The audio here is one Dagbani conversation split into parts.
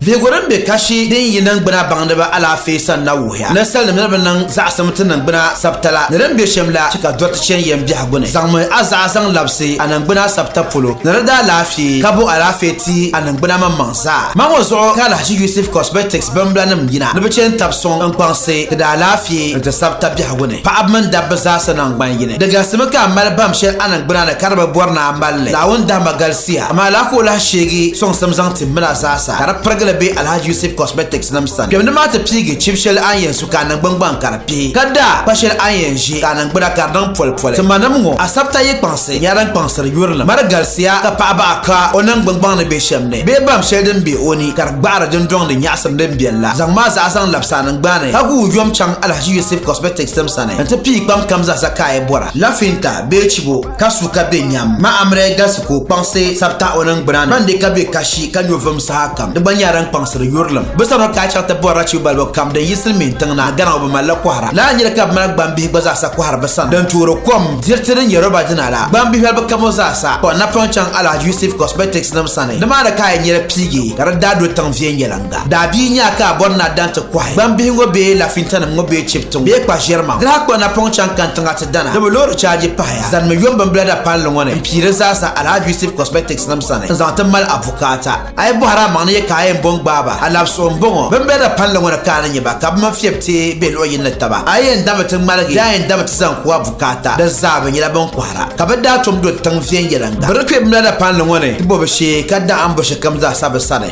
Vihigu din be kashi din yi niŋgbuna baŋdiba alaafee sani na wuhiya ni salinim ni bi niŋ zaɣisim ti niŋgbuna sabitala ni din be shem la chɛ ka dɔri ti chani yɛm biɛhigu ni. Zaŋmi a zaɣa zaŋ labisi a niŋgbuna sabita polo ni di daa laafee ka bo alaafee ti a niŋgbuna maŋmaŋ zaa. Ma ŋɔ zuɣu ka Alhaji Yusuf Cosmetics bimbila nim yina ni bi chɛ n-tab suŋ n-kpaŋsi ti daa laafee ni ti sabita biɛhigu ni paɣaba mini dabba zaasa naŋgban yini. Di galisimi ka a mali baŋ shɛli a niŋgbuna ni ka di bi bɔri ni a mali li. Naawuni dahima galisiya amaa lala ka o lahi sheegi sɔŋsim zaŋ timmila zaa sa ka di pirigili be Alhaji Yusuf Cosmetics nim sani. Kpemdi maa ti piigi chibi sheli a ni yɛn su ka a niŋgbuŋ gbaŋ ka di pihi, ka daa kpa sheli a ni yɛn ʒi ka a niŋgbuna ka di niŋ poli poli. Ti ma nim ŋɔ, Asabta yi kpaŋsi nyɛla din kpaŋsiri yurilim. Mari galisiya ka paɣa baɣa ka o niŋgbuŋ gbaŋ ni be shem ni bee bam sheli din be o ni ka di gbaɣiri dundɔŋ ni nyaɣisim din beni la. Zaŋ maa zaɣa zaŋ labisi a niŋgbani ka guui yom chaŋ Alhaji Yusuf Cosmetics nim sani n ti piigi kpam kam zaa sa ka a yi bɔra, lafinta bee chibo. ka su ka be nyam. Ma Amrei galisi ka o kpaŋsi sabita o ningbuna ni, ban di ka be kashi ka nyo vum sahakam. Di gba nyɛla din kpaŋsiri yurilim. Bɛ sani o ka a chaŋ ti bɔri rachiu balibu kam din yi Silimiin tiŋ na, Ghana ŋɔ bɛ mali li kɔhira. Lala n-nyɛli ka bɛ mali gbambihi gba zaasa kɔhiri bɛ sani din toori kom, diriti din nyɛ roba dina la. Gbambihi balibu kam ŋɔ zaasa ka o napɔŋ chaŋ Alhaji Yusuf Cosmetics nim sani. Nimaani ka a yɛn nya di piigi ka di daa do tiŋ viɛnyɛliŋga. Ba daabia nya ka a bɔri ni a dan ti kɔhi gbambihi ŋɔ bee lafintanim ŋɔ bee chibiti ŋɔ bee kpa ʒiɛri maa. Di daa kpa napɔŋ chaŋ kani tiŋa ti dana di bi loori chaaji pahaya zanimi yom bimbila dapalli ŋɔ ni m-pii di zaasa Alhaji Yusuf Cosmetics nim sani n-zaŋ ti mali a bukaata. A yi bɔhiri a maŋ ni yɛ ka a yɛn bɔŋ gbaai ba, a labisigu m-bɔŋɔ, bimbila dapalli ŋɔ ni ka a ni nya ba ka bɛ mini fiɛbi teei be luɣ yini ni taba. A yi yɛn dami ti ŋmaligi bee a yɛn dami ti zaŋ ku a bukaata di zaa bɛ nyɛla bɛn kɔhira ka bɛ daa tom do tiŋ viɛnyɛliŋga. Bɛ di kpe bimbila dapalli ŋɔ ni ti bɔ bɛ shee ka daa ambo shɛlikam zaasa bɛ sani.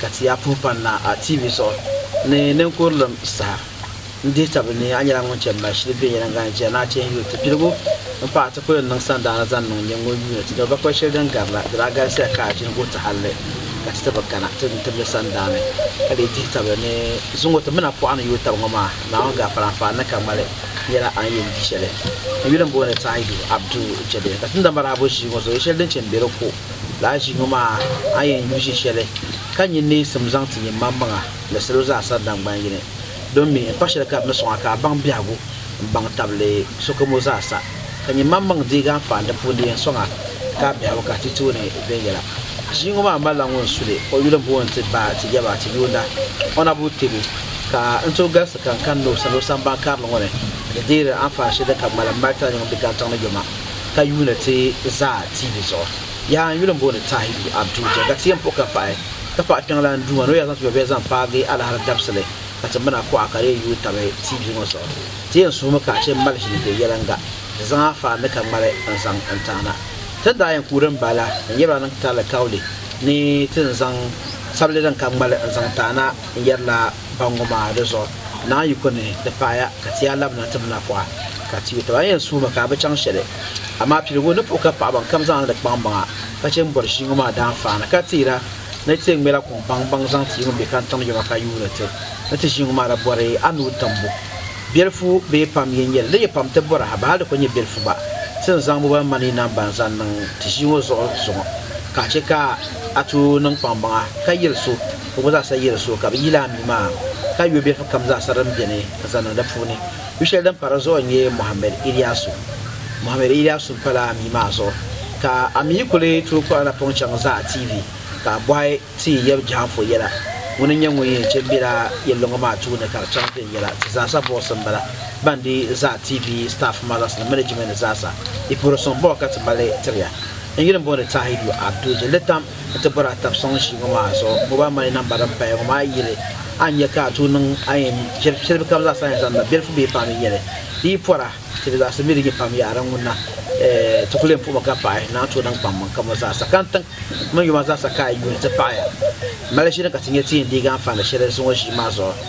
ka ti yaa puhi pani na a TV zuɣu ni ninkurilim saha n-dihi tabili ni a nyɛla ŋun chɛ mali shili viɛnyɛliŋga ni jɛri ni a chɛ n-yuui ti piligu m-pahi ti kuli niŋ sandaana zaŋ niŋ nyɛ ŋun yuuni ti doli bakpal shɛli din gari la di daa galisiya ka a ʒini guhitahalli ka ti ti bi kana ti ni tibili sandaani ka lee dihi tabili ni zuŋ o ti mi na pɔɣa ni yuui tab ŋɔ maa Naawuni gaafara n-faai ni ka ŋmali nyɛla a ni yɛn di shɛli n yuli m-booni Taahidu Abdu Jɛbɛ ka ti ni da marahibu ʒii ŋɔ zuɣu yɛ shɛli din chɛ m-be di ko Lala ʒiŋɔ maa a yɛn yu ʒi shɛli ka nyin neesim zaŋ ti nyinmammaŋa ni salo zaa sani daŋgban yini. Domin m pa shɛli ka di ni sɔŋ a ka a baŋ biɛhigu m-baŋ tabili sokamo zaa sa, ka nyinmammaŋ deegi a m-paai n di puuni di yɛn sɔŋ a ka a biɛhigu ka a ti tooni viɛnyɛla. Ʒiŋɔ maa malila ŋun su li o yuli m-booni nti ba ti yaba ti yuunda Honourable Tegu ka n tooi galisi ka n kani ni o sani o samban karili ŋɔ ni di deeri anfaani shɛli din ka ŋmalim mali tarinyɛŋ bɛ Galtaŋ ni yoma. ka yuuni ti zaa TV zuɣu. Yaha n yuli m booni Tahiru Abdu je ka ti yen puhi ka paɣi ka paɣi kpiɔŋlan Duuma ni o yaa zaŋ ti yɔbiya zaŋ paagi alahiri dabisili ka ti mina kuɣa ka di yen yuui tabi TV ŋɔ zuɣu. Ti yen suhimi ka ache mali ʒili be yeliŋga di zaŋ a faan ni ka ŋmali n zaŋ n taana. Tin daa yen kuui din bahi la n yebila niŋ ti alikauli ni tin zaŋ sabili din ka ŋmali n zaŋ taana n yerila ba ŋɔ maa di zuɣu, naan yi ku ni di paaya ka ti yaa labina ti mina pɔɣa, ka ti yo taba. A yɛn suhimi ka a bi chaŋ shɛli, amaa piligu ni puhi ka paɣibaŋkam zaŋla di kpaŋmaŋa ka chɛ m-bɔri ʒii ŋɔ maa daanfaani, ka teera ni ti yɛn ŋmɛla kuŋ baŋbaŋ zaŋ ti yi ŋun be kantiŋ yoma ka yuuni ti ni ti ʒii ŋɔ maa la bɔri a nuu timbu. Biɛlifu bee pam yi nyɛ li, di yi pam ti bɔra ha, bɛ hal di ku nyɛ biɛlifu gba, ti ni zaŋ bo ba mani yi nam ba n-zaŋ niŋ ti ʒii ŋɔ zuɣu zuŋɔ, ka a chɛ ka a tooi niŋ kpaŋmaŋa ka yɛli so, Bɛ ŋɔ zaasa yi di suhu ka bɛ yil a mi maa, ka yo bilifu kam zaasa din beni ka zaŋ niŋ di puuni. Yo shɛli din pa di zuɣu n-nyɛ Mohammed Iliyasu. Mohammed Iliyasu m-pala a mi maa zuɣu, ka a mi yi kuli tooi kpuɣi a napɔŋ chaŋ Zaa TV ka a bɔhi ti yɛm jɛhaŋfo yɛla. Ŋuni n-nyɛ ŋun yɛn kpe m-bela yɛliloŋo maa tuuni ka di chaŋ viɛnyɛla. Ti zaasa voice m-bala ban di Zaa TV staff mothers ni management ni zaasa. Yi puhiri suŋ bɔŋɔ ka ti mali tiri ya. N yuli m-booni Tahidu Abdu Jilli Tam. N ti bɔri a tab sɔŋ ʒii ŋɔ maa zuɣu mobile money namba din paya ŋɔ maa yili a ni nya ka a tooi niŋ a yɛn shɛli kam zaa sa yɛn zaŋ na bilifu bee paanu yɛli di yi pɔra ti di zaɣisi mi di nyɛ pam yaɣiri ŋuna eh ti kuli yɛn puhimi ka paɣi ni a tooi niŋ kpaŋ maŋ ka mo zaa sa ka n tiŋ mini yuma zaa sa ka a yuuli ti paɣi ya mali ʒini ka ti nya ti yɛn deegi anfaani shɛli zuŋɔ ʒii maa zuɣu.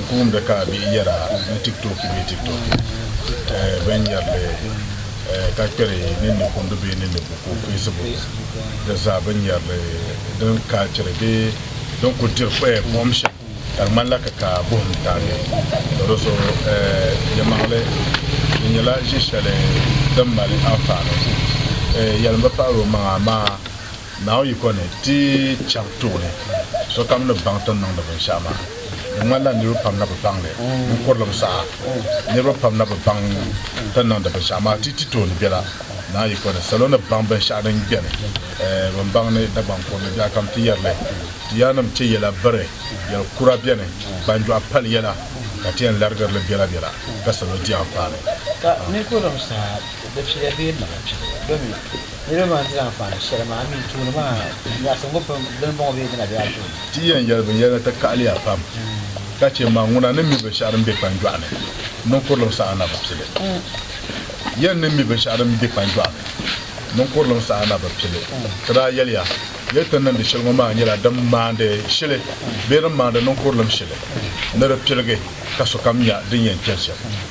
N-kuumdi ka a bihi yɛra ni tiktoki bee tiktoki binyɛrili ka kpɛri ninni kundu bee ninni buku, Facebook, di zaa binyɛrili din kaalchiri bee din kul diri kpaya buɣim shɛm ka di ŋmanila ka ka buɣim taagi ka do so yɛlimaŋli. Di nyɛla ʒi shɛli din mali anfaani. Yɛlim bi pahiri o maŋa amaa. Naawuni yiko ni ti chɛb tooni, sokam ni baŋ ti ni niŋdi binshɛɣu maa. Di ŋmanila niriba pam na bi baŋ li. N kurilim saha, niriba pam na bi baŋ ti ni niŋdi binshɛɣu maa. Ti ti tooni bela Naa yiko ni, salo ni baŋ binshɛɣu din beni, bɛn baŋ ni Dagbaŋ kurili biɛɣukam ti yɛri li. Ti yaannim chɛ yɛla biri, yɛl kura beni, gbanjɔɣu pali yɛla, ka ti yɛn larigiri li bela bela, ka salo di anfaani. Ka ni kurilim saha, di piya bee mala pibu, domin Niriba maa ni ti zaŋ faani shɛli maa mi tuuni maa, nyaɣisim ŋɔ pun di ni bɔŋɔ bee di na be a tooni? Ti yɛn yɛli binyɛra ni ti kahili ya pam ka chɛ ma ŋuna ni mi binshɛɣu din be kpanjɔɣu ni niŋkurilim saha na bi pili. Yɛn ni mi binshɛɣu din be kpanjɔɣu ni niŋkurilim saha na bi pili, ti daa yɛli ya, Yɛli ti ni niŋdi shɛli ŋɔ maa nyɛla din maandi shili bee din maandi niŋkurilim shili ni di piligi ka sokam nya din yɛn chɛli shɛm.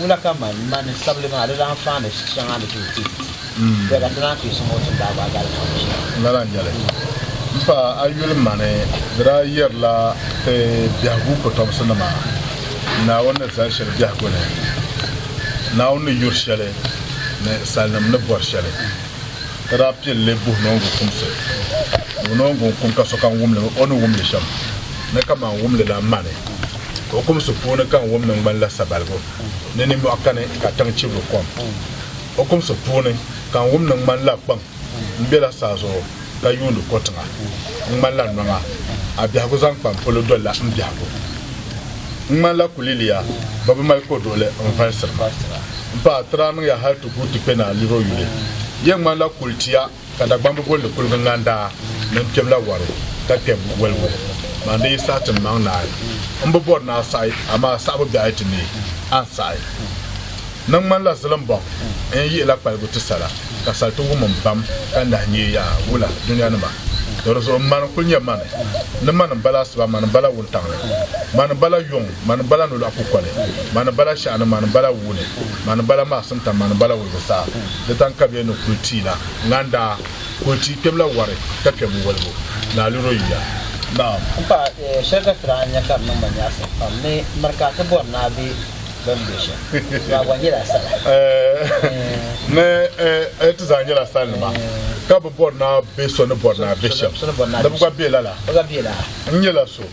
Wula ka man mani sabili maa di daa faan ni shɛŋa ni ti ti bɛ ka ti daa kpee suŋ o ti ni daa gbaagi alifa ŋɔ shɛm. Lala n-nyɛli. M pa a yuli mani di daa yɛrila ti biɛhigu kɔtomsi nima Naawuni ni zali shɛli biɛhigu ni, Naawuni ni yuri shɛli ni salinim ni bɔri shɛli. Ti daa pili li buhi noongu kumsi. Buhi noongu n-kum ka sokam wum li o ni wum li shɛm ni kaman wum li la mani. Okumsi puuni ka n wum ni ŋmanila sabaligu ni ninmɔɣu kani ka tiŋ chibiri kom. Okumsi puuni ka n wum ni ŋmanila kpaŋ m-bela saa zuɣu ka yuuni ko tiŋa. N ŋmanila nɔŋa, a biɛhigu zaŋ kpa m polo dolila m biɛhigu. N ŋmanila kuliliya bɛ bi mali koduɣili n valisiri ma. M paɣa, ti daa niŋ ya hal ti guui ti kpe ni a liri o yuli. Yɛn ŋmanila kulitiya. Ka Dagbamba bolli kuliga n lan daa mini kpɛbila wari ka kpɛb woligu maa ni yi saɣi ti maŋ naai. M bi bɔri ni a saɣi, amaa saɣibu biɛɣu ti neei a n saɣi. Ni n ŋmanila zilimbɔŋ n yɛn yihila kpaligu ti sala, ka sal ti wum m bam ka nahi nyee yaa wula dunianima. Tɔ di zuɣu m mani n-kul nyɛ mani, ni mani m bala asiba, mani m bala wuntaŋli, mani m bala yuŋ, Mani bala nolɔɣu kukoli, mani bala shɛɣuni, mani bala wuuni, mani bala maɣisim tam, mani bala wulibu saha. Di taŋkabiya ni kuli tiyi la, ŋan daa kuli tiyi kpɛbu la wari ka kpɛbu wolibu, ni a luri o yuya. Naam. M paɣa, shɛli ka ti daa nya ka di niŋ ma nyaɣisim pam ni miri ka ti bɔri ni a be bɛ ni be shɛm maa gba nyɛla sala. Ni ti zaa nyɛla salinima ka bi bɔri ni a be so ni bɔri ni a be shɛm ni bi gba be lala. N nyɛla so.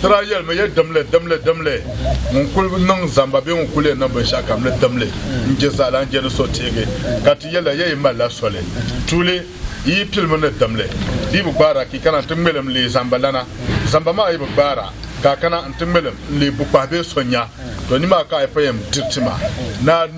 Tira yɛlimi ya dimli, dimli, dimli, ŋun kul niŋ zamba bee ŋun kul yɛn niŋ binshɛɣu kam ni dimli n-je zaala n-je ni so teegi, ka ti yɛli a, Ya yi malila soli? Tuuli, Yi yi pilimi ni dimli, di yi bi gbaara ka yi kana nti ŋmɛlim n-leei zambalana. Zamba maa yi bi gbaara ka a kana nti ŋmɛlim n-leei bukpahi bee so nya, tɔ nimaani ka a yi pɔi yɛn diri ti ma.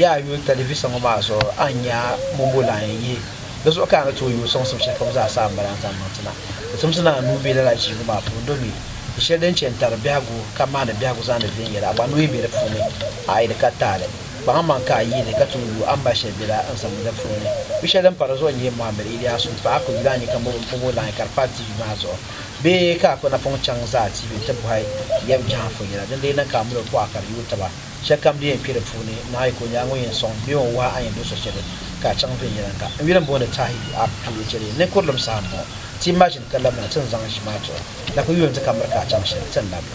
Yaa a yuli talivisa ŋɔ maa zuɣu a ni nya mɔmbo lan yɛn yihi. Di zuɣu ka a ni tooi yooi sɔŋsim shɛli kam zaa sa a ni balan zaŋ niŋ ti na. Ti timsi ni a nuu be lala ʒiingu maa puuni domi di shɛli din chɛ n-tari biɛhigu ka maani biɛhigu zaandi viɛnyɛla gba nuu yi be di puuni, a yi di ka taai li. Kpaŋmaŋ ka a yihi li ka tooi yooi a ni ba shɛli bela n zaŋmi di puuni. Yu shɛli din pa di zuɣu n-nyɛ Mohammed Iliyasu paɣa ka o yuli a nya ka mɔmbo lan yi ka di pa TV maa zuɣu bee ka a kpi napɔŋ chaŋ zaa TV nti bɔhi yɛm jɛhaŋ fɔnyɛla din lee niŋ ka a mali o pɔɣa ka di yooi taba. Shɛlikam din yɛn kpe di puuni, naɣi ka o nyaaŋa o yɛn sɔŋ bee o ni wahi a yɛn do so shɛli ka a chaŋ viɛnyɛliŋga. N yuli m-booni Tahi Ab Due cheli ni kurilim saha m-bɔŋɔ. Ti ma ʒini ka labina ti ni zaŋ ʒi maa tuhi na kuli yuun di ka miri ka a chaŋ shɛli, ti ni lab li.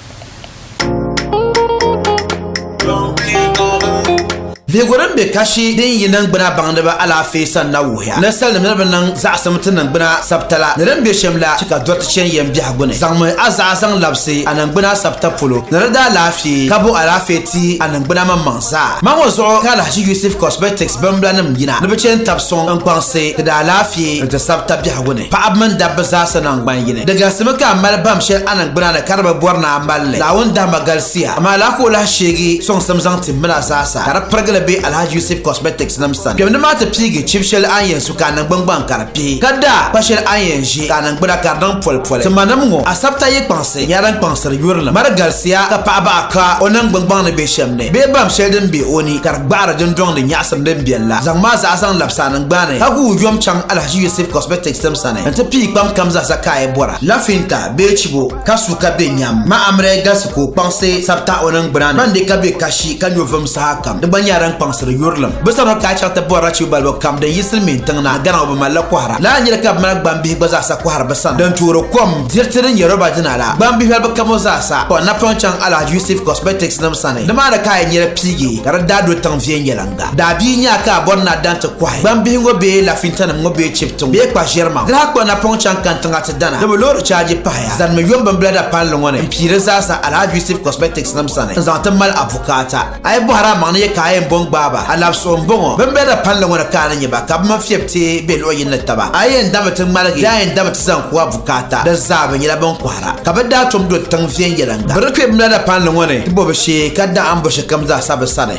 Vihigu din be kashi din yi niŋgbuna baŋdiba alaafee sani na wuhiya ni salinima ni bi niŋ zaɣisim ti niŋgbuna sabitala ni din be shem la che ka doriti che n yɛn biɛhigu. gbuni. Zaŋmi a zaɣa zaŋ labisi a niŋgbuna sabita polo, ni di daa laafee ka bo alaafee ti a niŋgbuna maŋmaŋ zaa. Ma ŋɔ zuɣu ka Alhaji Yusuf Cosmetics bimbulanim yina ni bɛ chɛ n-tab sɔŋ n kpaŋsi ti di alaafee ni ti sabita biɛhigu ni paɣiba mini dabba zaasa naŋgban yini. Di galsimi ka a mali bahim shɛli a niŋgbuna ni ka di bi bɔri ni a mali li. Naawuni dahima galisiya, amaa lala ka o lahi sheegi sɔŋsim zaŋ tim min a zaasa ka di pirigili be Alhaji Yusuf Cosmetics nim sani. Kpɛmdi maa ti piigi chibi shɛli a ni yɛn su ka a niŋgbuŋgbaŋ ka di kpe. Ka daa pa shɛli a ni yɛn ʒe ka a niŋgbuna ka di niŋ polipoli. Timanim ŋɔ asabta yi kpaŋsi nyɛla din kpaŋsiri yurilim. Mari galisiya ka paɣa baɣa ka o niŋgbuŋgbaŋ ni be shɛm ni bee bam shɛli din be o ni ka di gbaɣiri dundɔŋ ni nyaɣisim din beni la. Zaŋm a zaɣa zaŋ labisi a niŋgbuna ni ka gu o yom chaŋ Alhaji Yusuf Cosmetics nim sani nti piyi kpam kam zaa sa ka a yi bɔra, lafinta bee chibo. ka su ka be nyam. Ma Amrei galisi ka o kpaŋsi sabita o ningbuna ni, ban di ka be kashi ka nyo vum sahakam. Di gba nyɛla din kpaŋsiri yurilim. Bɛ sani o ka a chaŋ ti bɔri rachiu balibu kam din yi Silimiin tiŋ na, gana ŋɔ bɛ mali li kɔhira. Lala n-nyɛli ka bɛ mali gbambihi gba zaasa kɔhiri bɛ sani din toori kom, diriti din nyɛ roba dina la, gbambihi balibu kam ŋɔ zaasa. Kɔhi napɔŋ chaŋ Alhaji Yusuf Cosmetics nim sani, nimaani ka a yɛn nyɛla piigi ka di daa do tiŋ viɛnyɛliŋga. la. Daabia nyaa ka a bɔri ni a daŋ ti kɔhi gbambihi ŋɔ bee lafintanim ŋɔ bee chibiti ŋɔ bee kpa ʒiɛri maŋ. Diriha kpa napɔŋ chaŋ kani tiŋa ti dana di bi loori chaaji pahaya zanimi yom bimbila dapalli ŋɔ ni m-pii di zaasa Alhaji Yusuf Cosmetics nim sani n-zaŋ ti mali a bukaata. A yi bɔhiri a maŋ ni yɛ ka a yɛn bɔŋ gbaai ba, a labisuɣu m-bɔŋɔ. Bimbila dapalli ŋɔ ni ka a ni nya ba ka bɛ mini fiɛbi teei be luɣ yini ni taba. A yi yɛn dami ti ŋmaligi bee a yɛn dami ti zaŋ ku a bukaata di zaa bɛ nyɛla bɛn kɔhira ka bɛ daa tom do tiŋ viɛnyɛliŋga. Bɛ ni kpe bimbila dapalli ŋɔ ni ti bɔ bɛ shee ka daɣim bɔ shɛlikam zaasa bɛ sani.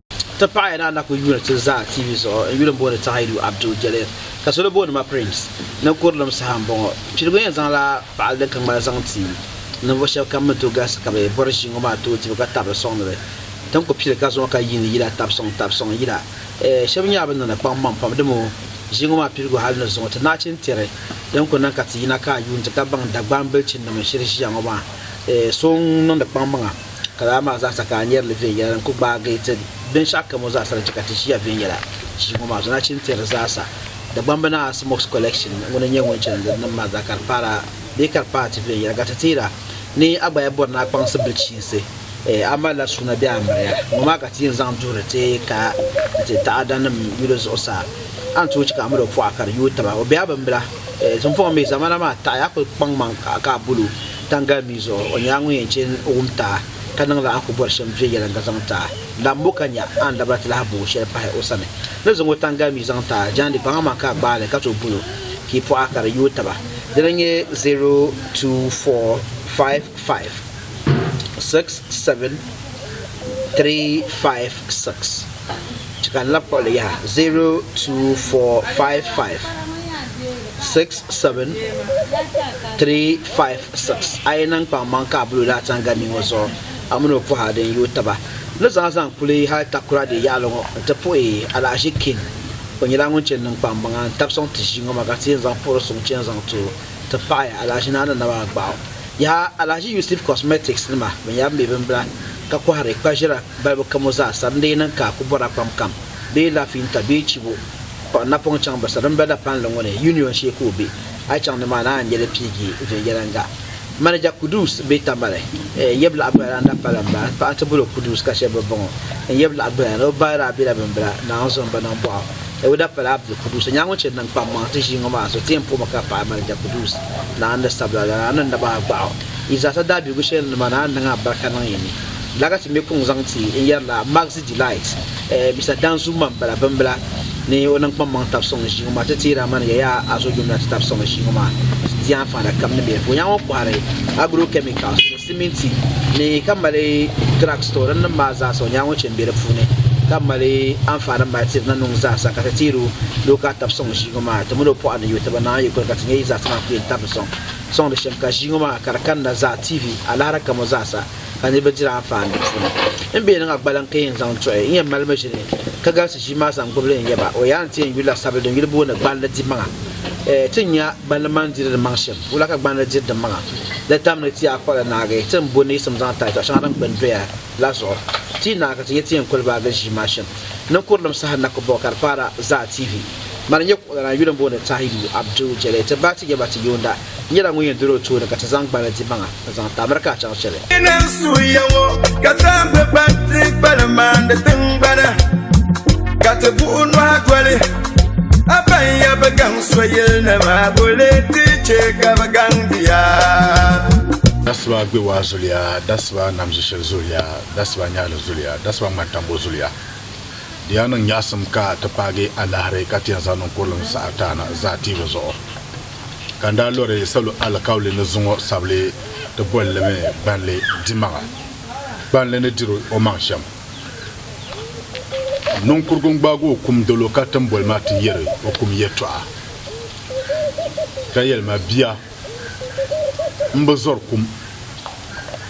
Ti paɣi ni a na kuli yuuni ti zaa TV zuɣu n yuli booni Tahaidu Abdul Jalil ka solo booni ma Prince ni kurilim saha n bɔŋɔ. Piligu yɛn zaŋla paɣili din ka ŋmani zaŋ ti ninvuɣu shɛba kam ni tooi galisi ka bɛ bɔri ʒiingo maa tooi dibu ka tabili sɔŋdi li. Tin ku pili ka zuŋɔ ka yiini yila tabi sɔŋ tabi sɔŋ yila shɛba nyɛla bɛ niŋdi kpaŋ maŋ pam dimo ʒiingo maa piligu hali ni zuŋɔ ti naachin tiri din ku niŋ ka ti yina ka a yuuni ti ka baŋ Dagbaŋ bilichinnima shiri ʒiya ŋɔ maa so n-niŋdi kpaŋmaŋa Ka lala maa zaasa ka a nyari li viɛnyɛla din kul gbaagi ti binshɛɣu kam ŋɔ zaasa din chɛ ka ti ʒiya viɛnyɛla ʒii ŋɔ maa zuɣu nachin ti di zaasa. Dagbamba naa a Smoke's Collection ŋɔ ni nyɛ ŋun chani di nim maa zaa ka di paara bee ka di paai ti viɛnyɛla ka ti teera ni a gbaya bɔri ni a kpaŋsi bilichiinsi eh a malila suuna bee a miriya ŋɔ maa ka ti yɛn zaŋ duhiri ti kaya ni ti taadanim yuli zuɣusaa a ni tooi chɛ ka a mini o pɔɣa ka di yooi taba o bɛ a bimbila eh tinvuɣu mi zamana maa taɣi a kul kpaŋmaŋ ka a bol o Tangali mii zuɣu, o nyɛla ŋun yɛn chɛ wum ti a, ka niŋ la a ni ku bɔri shɛm viɛnyɛliŋga zaŋ ti a. Lan mo ka nya a ni dabira ti lahi booi shɛli pahi o sani. Ni zaŋ o tangali mii zaŋ ti a, jaandi kpaŋa maa ka a gbaai li ka tooi bol o ka yi pɔɣa ka di yooi taba. Dina n-nyɛ 024556736. Chɛ ka n labi kpuɣi li yaha, 02455. 67356 a yi niŋ kpaŋmaŋ ka a bul o laa tani gani ŋɔ zuɣu, a min o pɔha din yooi taba ni zaa zaŋ kuli hal takura di yaɣili ŋɔ nti puhi alahiʒi King. O nyɛla ŋun chɛ niŋ kpaŋmaŋa n-tab sɔŋ ti ʒii ŋɔ maa ka ti yɛn zaŋ puhiri suŋ chɛ n-zaŋ ti o ti paɣi alahiʒi naa ni naba agbaɣu. Yaha! Alahiʒi Yusuf Cosmetics nima bɛn yɛri bɛ mi bimbila ka kɔhiri kpaʒira balibu kam ŋɔ zaa sara n-dii niŋ ka a ku bɔra kpam kam bee lafiinta bee chibo, Kpuɣi napɔŋ chaŋ bɛ sarimbila dapalli ŋɔ ni, Union shee ka o be. A yi chaŋ nimaani a ni nya li piigi viɛnyɛliŋga. Manager Kudus bee Tamale n yab laɣ Gbilana dapala m bala. Paɣa nti boli o Kudus ka shɛb bi bɔŋɔ n yab laɣ Gbilana. O ba daa bela bimbila Naaŋ zuɣu m-ba niŋ bɔɣu ni o dapala Abdul Kudus. O nyɛla ŋun chɛ niŋ kpammaŋ ti ʒii ŋɔ maa zuɣu. Ti yɛn puɣimi ka paɣi Manager Kudus Naaŋ ni sabila lana a ni naba a gbaɣu. Yi zaasa daabiligu shɛli ni nimaani a ni niŋ a barika niŋ yi ni. Lagati me kuŋ zaŋ ti n yɛri la Maxi Delight. Eh, Mr Danzu man bala bimbila ni o niŋ kpammaŋ tabi suŋ ʒii ŋɔ maa ti teeri a mani ya yaa a zo yomina ti tabi suŋ ʒii ŋɔ maa di anfaana kam ni bɛ vuya ŋɔ kɔhiri agro chemicals ni siminti ni ka mali drug store din nim maa zaasa o nya ŋɔ chɛ m-be di puuni ka mali anfaani mali tiri na nuŋ zaasa ka ti teeri ni o ka tabi suŋ ʒii ŋɔ maa ti mini o pɔɣa ni yo ti bi naai yikuli ka ti nya yi zaasa maa ku yɛn tabi suŋ suŋ di shɛm ka ʒii ŋɔ maa ka di kani na zaa TV alahira kam o zaasa ka niriba diri anfaani di puuni. N bɛ yɛn niŋ a gbaliŋ ka yɛn zaŋ tuɣi n yɛn malimi ʒini ka galisi ʒii maa zaŋ gbibili n yaba o yaa ni ti yɛn yuli la sabili din yuli booni gballi dimaŋa. Ɛɛ ti nya gballi mani diri di maŋ shɛm, wula ka gballi diri di maŋa? Di tam ni ti yaa kpuɣi li naagi ti ni bo neesim zaŋ taai tɔɣ shɛŋa din gbini doya la zuɣu. Ti yi naai ka ti nya ti yɛn kuli baagi ʒii maa shɛm, ninkurilim saha na ku baɣi ka di paara zaa TV. Mani nyɛ kuɣulananyuli n booni Tahiyu Abdu Jɛlɛ ti baai ti yaba ti yoonda. nyɛla ŋun yɛn doli o tooni ka ti zaŋ gbali dimaŋa n-zaŋ ti America a chaŋ shɛli. N ni suhiya ŋɔ ka zaambi ban ti gbali maandi tiŋgbana ka ti buɣi nɔhi doli a ban ya bi gaŋ so yili ni maa bo lee ti chɛ ka bi gaŋ di ya. Dasiba gbewaa zuliya, Dasiba namʒishili zuliya, Dasiba nyaɣili zuliya, Dasiba ŋmantambo zuliya. Di yaa niŋ nyaɣisim ka ti paagi alaahiri ka ti yɛn zaŋ niŋ kuriliŋ saha taana zaa tiibu zuɣu. ka n daa lɔri salo alikauli ni zuŋɔ sabili ti boli li mi gbanli dimaŋa. Gbanli ni diri o maŋ shɛm. Niŋkurugu n-gbaagi o kum dolo ka tim boli ma ti yɛri o kum yɛtɔɣa, ka yɛli ma, Bia, m bi zɔri kum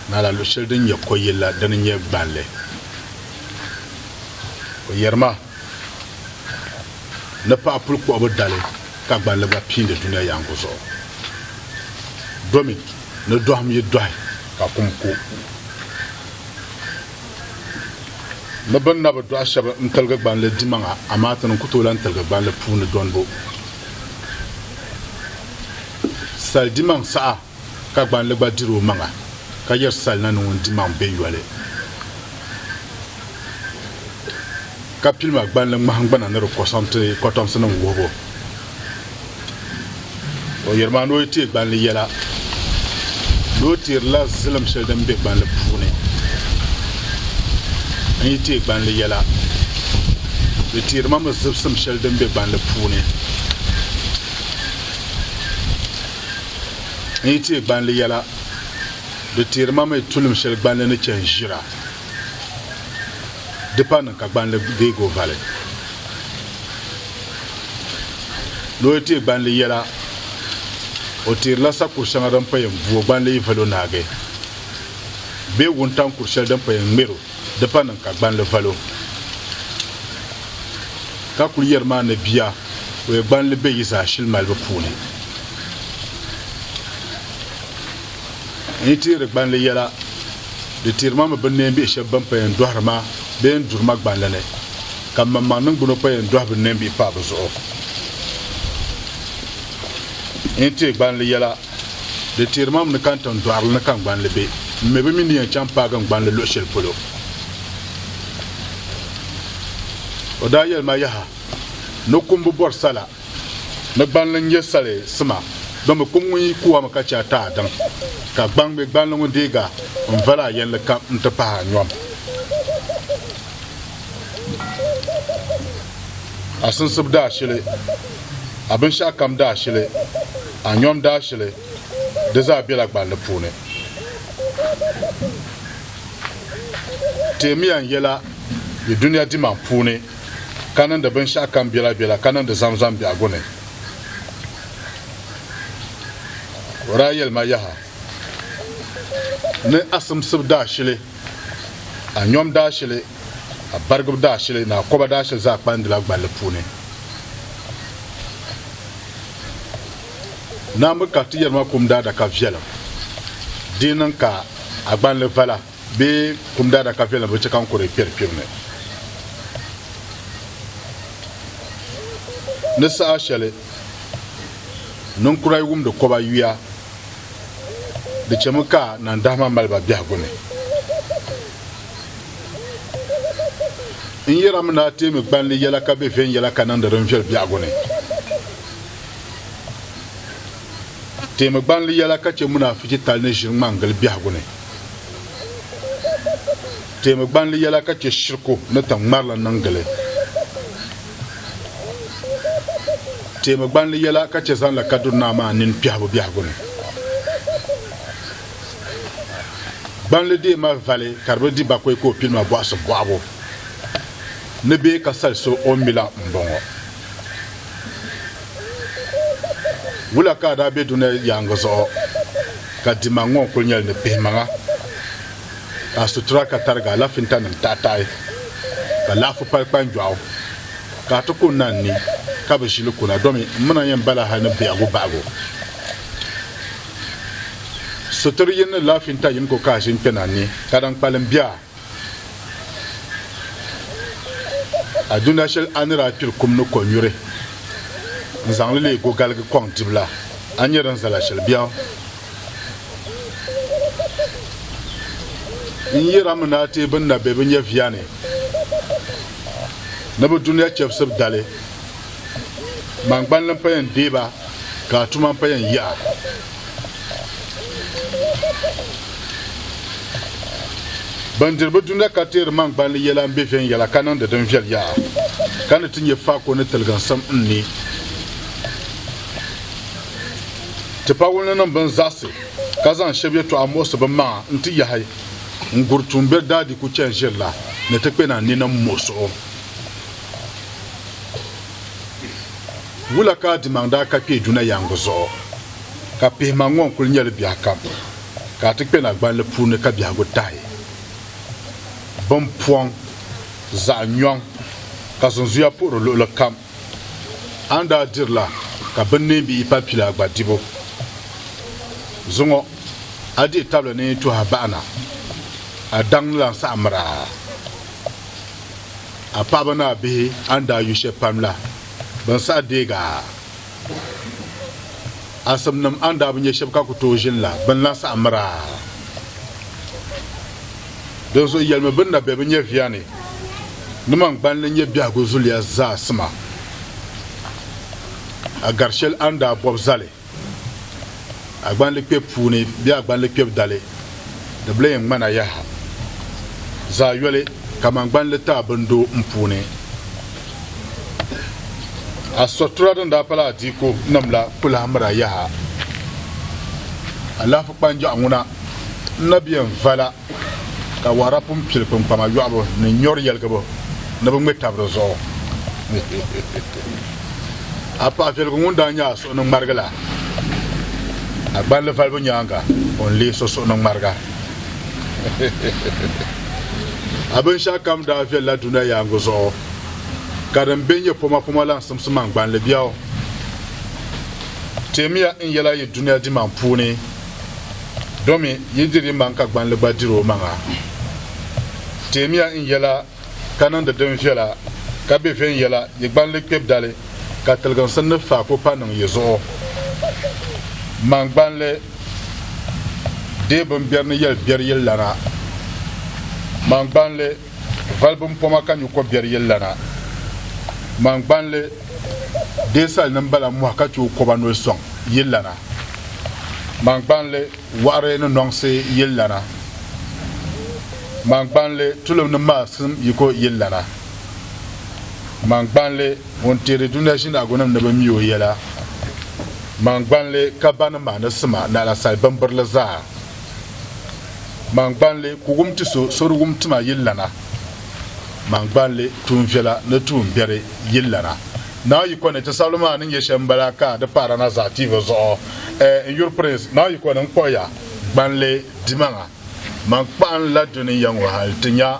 na la luɣ shɛli din nyɛ kɔyili la dini n-nyɛ gbanli. O yɛri ma. ni paɣa puli kpuɣibu dali ka gballi gba piindi dunia yaangu zuɣu. Domi ni dɔhim yi dɔhi ka kum ku. Ni bɛ ni na bi dɔhi shɛba n-tiligi gballi dimaŋa amaa ti ni ku tooi lan tiligi gballi puuni dɔnbu sali dimaŋ saha. ka gbanli gba diri o maŋa, ka yiri sali na ni ŋun di maŋ be yoli. Ka pilima gbanli ŋmahingbana ni di kɔsɔm ti kɔtomsinim wuhibu. O yiri maa ni o yi teei gbanli yɛla, ni o teerila zilim shɛli din be gbanli puuni n yi teei gbanli yɛla, di teeri ma mi zibisim shɛli din be gbanli puuni. n yi teei gbanli yɛla, di teeri ma mi tulim shɛli gbanli ni chɛ n-ʒira. Di pa niŋ ka gbanli deeg o vali. Ni o yi teei gbanli yɛla, o teerila sakuri shɛŋa din pa yɛn bu o gbanli yi val o naagi bee wuntaŋ kur shɛli din pa yɛn ŋmer o. Di pa niŋ ka gbanli val o, ka kul yɛri ma ni bia o ya gbanli be yi zaashili malibu puuni. N yi teeri gbanli yɛla, di teeri ma mi binneen bihi shɛb bɛn pa yɛn dɔhiri ma bee n-duri ma gbanli ni, ka m maŋmaŋ niŋgbuna pa yɛn dɔhi binneen bihi paai bɛ zuɣu. N yi teei gbanli yɛla, Di teeri ma m ni kani tiŋ dɔɣirili ni ka n gbanli be. M mi bɛ mi ni yɛn chaŋ paagi n gbanli luɣ shɛli polo. O daa yɛli ma, Yaha! Ni kum bi bɔri sala ni gbanli n-nyɛ sali sima, di mi kum ŋun yi ku a mi ka chɛ a ti a daŋ, ka gbaŋ mi gbanli ŋun deeg a n-val a yɛlli kam n-ti pahi a nyɔm. A sinsib daashili, a binshɛɣukam daashili. a nyom daashili di zaa bela gballi puuni. Teemiya n yela yi dunia dimaŋ puuni ka niŋdi binshɛɣu kam bela bela ka niŋdi zamzam biɛhigu ni. Ka o daa yeli ma yaha ni a simsibu daashili, a nyom daashili, a barigibu daashili ni a koba daashili zaa kpandila gballi puuni. Naambi ka ti yɛri ma kum daadaka viɛlim. Di niŋ ka a gbanli vala bee kum daadaka viɛlim bi chɛ ka n kuri kpɛri kpibu ni. Ni saha shɛli ninkura yi wumdi kɔba yuya, di chɛmi ka nandahima mali ba biɛhigu ni. N yɛrimi ni a teemi gbanli yɛla ka be viɛnyɛla ka niŋdi din viɛl biɛhigu ni. Teemi gbanli yɛla ka chɛ munaafichi tali ni ʒiri ŋmangili biɛhigu ni. Teemi gbanli yɛla ka chɛ shiriku ni tiŋ ŋmarili niŋ gili. Teemi gbanli yɛla ka chɛ zaŋla Kaduna Naa maa nini kpɛhibu biɛhigu ni. Gbanli dee mali vali ka di bi di bakoi ka o pili ma bɔɣisi bɔɣibu ni bee ka sali so o mi la m-bɔŋɔ. Wula ka a daa be dunia yaaŋa zuɣu ka dimaŋ ŋɔ n-kul nyɛli ni pihimaŋa ka a sutura ka tarigi alafintanim taɣitaɣi ka laɣifu pali kpanjɔɣu ka a ti ku n-na n-ni ka bi ʒili kuna domi m-mina yɛn bala hal ni biɛhigu bahigu. Sitiri yin ni lahi finta yin ko kahi ʒin kpɛna ni ka din kpalim bia. A duna shɛli a ni daa kpiri kum ni kɔnyuri n-zaŋ li leei gogaligi kɔŋ dibu la, a nyɛ din zala shɛli biɛɣu. N yɛra mi ni a teei binna bɛ bi nyɛviya ni ni bɛ dunia chɛbisib dali. Maŋgbani n pa yɛn deei ba ka a tuma n pa yɛn yiɣa. Ban diri bɛ dunia ka teeri maŋgbani yɛla m-be viɛnyɛla ka niŋdi din viɛl yaha, ka ni ti nya faako ni tiliginsim n ni ti pa wulininim bini zaɣisi ka zaŋ shɛb yɛtɔɣa muɣisi bɛ maŋa nti yahi n-guri tuumbiɛri daadiiku chani ʒiri la ni ti kpɛna ninim muɣisiɣu. Wula ka adimaŋ daa ka kpee duna yaŋgu zuɣu, ka pihimaŋ ŋɔ n-kul nyɛ li biɛhikam, ka a ti kpe na gballi puuni ka biɛhigu tahi bimpɔŋ zaɣ nyɔŋ ka zunzuya puɣiri luɣili kam? A ni daa dirila ka binneenbi yi pali pila gba dibu zuŋɔ, a dihi tabili ni yi tuhi a baɣa na, a daŋ ni lan saɣimir a. a paɣaba ni a bihi a ni daa yu shɛli pam la, bɛ ni saɣi deeg a. Asimnim a ni daa bi nya shɛb ka ku tooi ʒini la, bɛ ni lan saɣi mir a. Dinzuɣu yɛlimi bɛ ni na be bɛ nyɛviya ni, Ni man gballi n-nyɛ biɛhigu zuliya zaa sima, a gari shɛli a ni daa bɔb zali. Agbandi kpɛbu puuni bɛ agbandi kpɛbu dali di bi lee ŋmana yaha zaa yoli kaman gbanli taa bindo m puuni. A sɔtura din daa pala adiiko nim la ku lahi mira yaha. Alahafu kpanjɔɣu ŋuna n na bɛn vala. ka wara pun pili kpiŋkpama yɔɣibu ni nyɔri yɛligibu ni bɛ ŋme tab di zuɣu. A paɣa viɛligu ŋun daa nya a suɣuninŋmarigi la, a gballi valibu nyaaŋa o ni leei so suɣuninŋmariga. A binshɛɣu kam daa viɛlila dunia yaaŋa zuɣu, ka din be nyɛ pomapoma la n-simsi ma n-gbanli biɛɣu. Teemiya n yɛla yi dunia dimaŋ puuni, domi yi diri yi maŋ ka gbanli gba diri o maŋa. Teemiya n yɛla ka niŋdi din viɛla ka be viɛnyɛla yi gbanli kpɛb dali ka tiliginsi ni faako pa niŋ yi zuɣu. Maŋ gbanli deei bimberi ni yɛli biɛri yili lana. Maŋ gbanli. Vali bimpɔma ka nyu kɔberi yɛli lana, Man gbanli dee sali ni m-bala mɔhi ka chɛ o kɔba noli sɔŋ yili lana, Man gbanli wɔɣiri ni nɔŋsi yili lana, Man gbanli tulim ni maalisim yiko yili lana, Man gbanli ŋun teeri dunia ʒinaagunim ni bɛ mi o yɛla, Man gbanli ka ba ni ma ni sima ni alasali bimbirili zaa. Mangbanli ku wum ti so sori wum tima yillana, mangbanli tuun viɛla ni tuun biɛri yillana. Naawuni yiko ni ti sabili maa ni nyɛ shɛm m-bala ka di paara na zaɣ tiivi zuɣu. Ɛ! N yuri Prince, Naawuni yiko ni n kpuɣi ya, gbanli dimaŋa, man kpaɣim la duniya ŋɔ hal ti nya.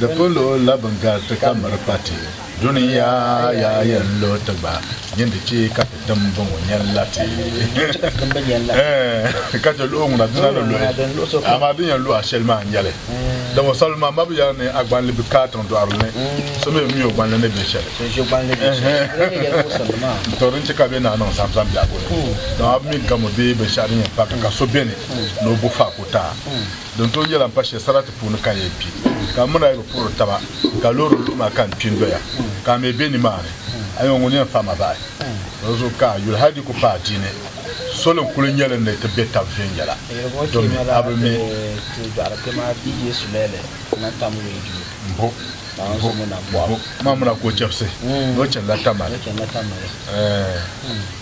Di polo la bɛ gariti ka miri pati duniya ya yɛn lo ti gba nyin di chɛ ka ti tim bɔŋɔ nyɛn la ti ɛɛh ka chɛ luɣi ŋuna dina ni luɣi amaa din yɛn lu a shɛli maa n-nyɛli din ŋɔ sabi maa mabu yɛli ni a gbanli bi ka a tiŋ dɔɣiri ni so mi bi mi o gbanli ni be shɛli ɛɛh to din chɛ ka bɛ naa niŋ zaŋzaŋ biɛhigu ni dama a bi mi gamo bee binshɛɣu din yɛn pa ka ka so beni ni o bu faa ka o taai Din tooi nyɛla m-pa shɛli sarati puuni ka n yɛn kpi, ka m mini a yi bi puhiri taba, ka loori luhi ma ka n kpi n-doya, ka a mi be nimaani. A yɛn ŋun yɛn fahi ma bahi luɣ zuɣu ka a yuli hal di ku paai diini. Soli n-kul nyɛ li ni ti be tab viɛnyɛla, domi a bi mi ti dɔɣiri kpe maa bia Yesu la yɛli ka na tam wee duli. Mbo, mbo, mbo! Maa muna ka o chɛbisi ni o chanila Tamale. Ɛɛh!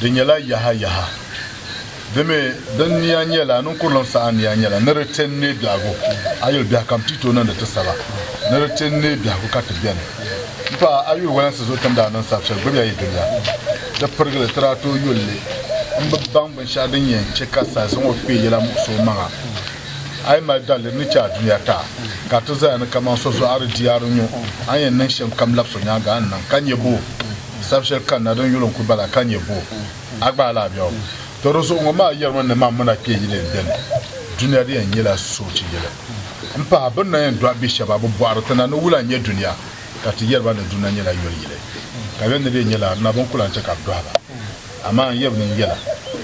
Di nyɛla yaha yaha. Di mi din nia nyɛla, ninkurulim saha nia nyɛla ni di tin neei biɛhigu. A yuli biɛhi kam ti yi tooi niŋdi ti sala, ni di tin neei biɛhigu ka ti beni. M paɣa, a yuli walansi zuɣu ti ni daa niŋ sab shɛli gbibi ya yi dunia, di pirigili ti daa tooi yuli li. M bi baŋ binshɛɣu din yɛn chɛ ka saha zaŋ o kpee yɛla muɣisi o maŋa. A yi mali daliri ni chɛ a dunia taa, ka a ti zaya ni kaman so zɔɣiri di yaari nyu, a ni yɛn niŋ shɛm kam labis o nyaaŋa n-niŋ, ka nyɛ boo? Sab shɛli kanna din yuli n-ku bala ka nyɛ bɔ? A gbaai la a biɛɣu? Tɔ di zuɣu ŋɔ maa yɛrimi ni man muna kpe yili n-dɛni dunia di yɛn nyɛla soochi yili m-pahi bɛ ni na yɛn dɔɣi bi shɛba a bi bɔɣiri ti na ni wula n-nyɛ dunia ka ti yɛri ba ni dunia nyɛla yoli yili ka bɛ ni bɛ nyɛla arina bɛ ni ku lan chɛ ka bɛ dɔhi ba. Amaa n yɛbi ni n yɛla,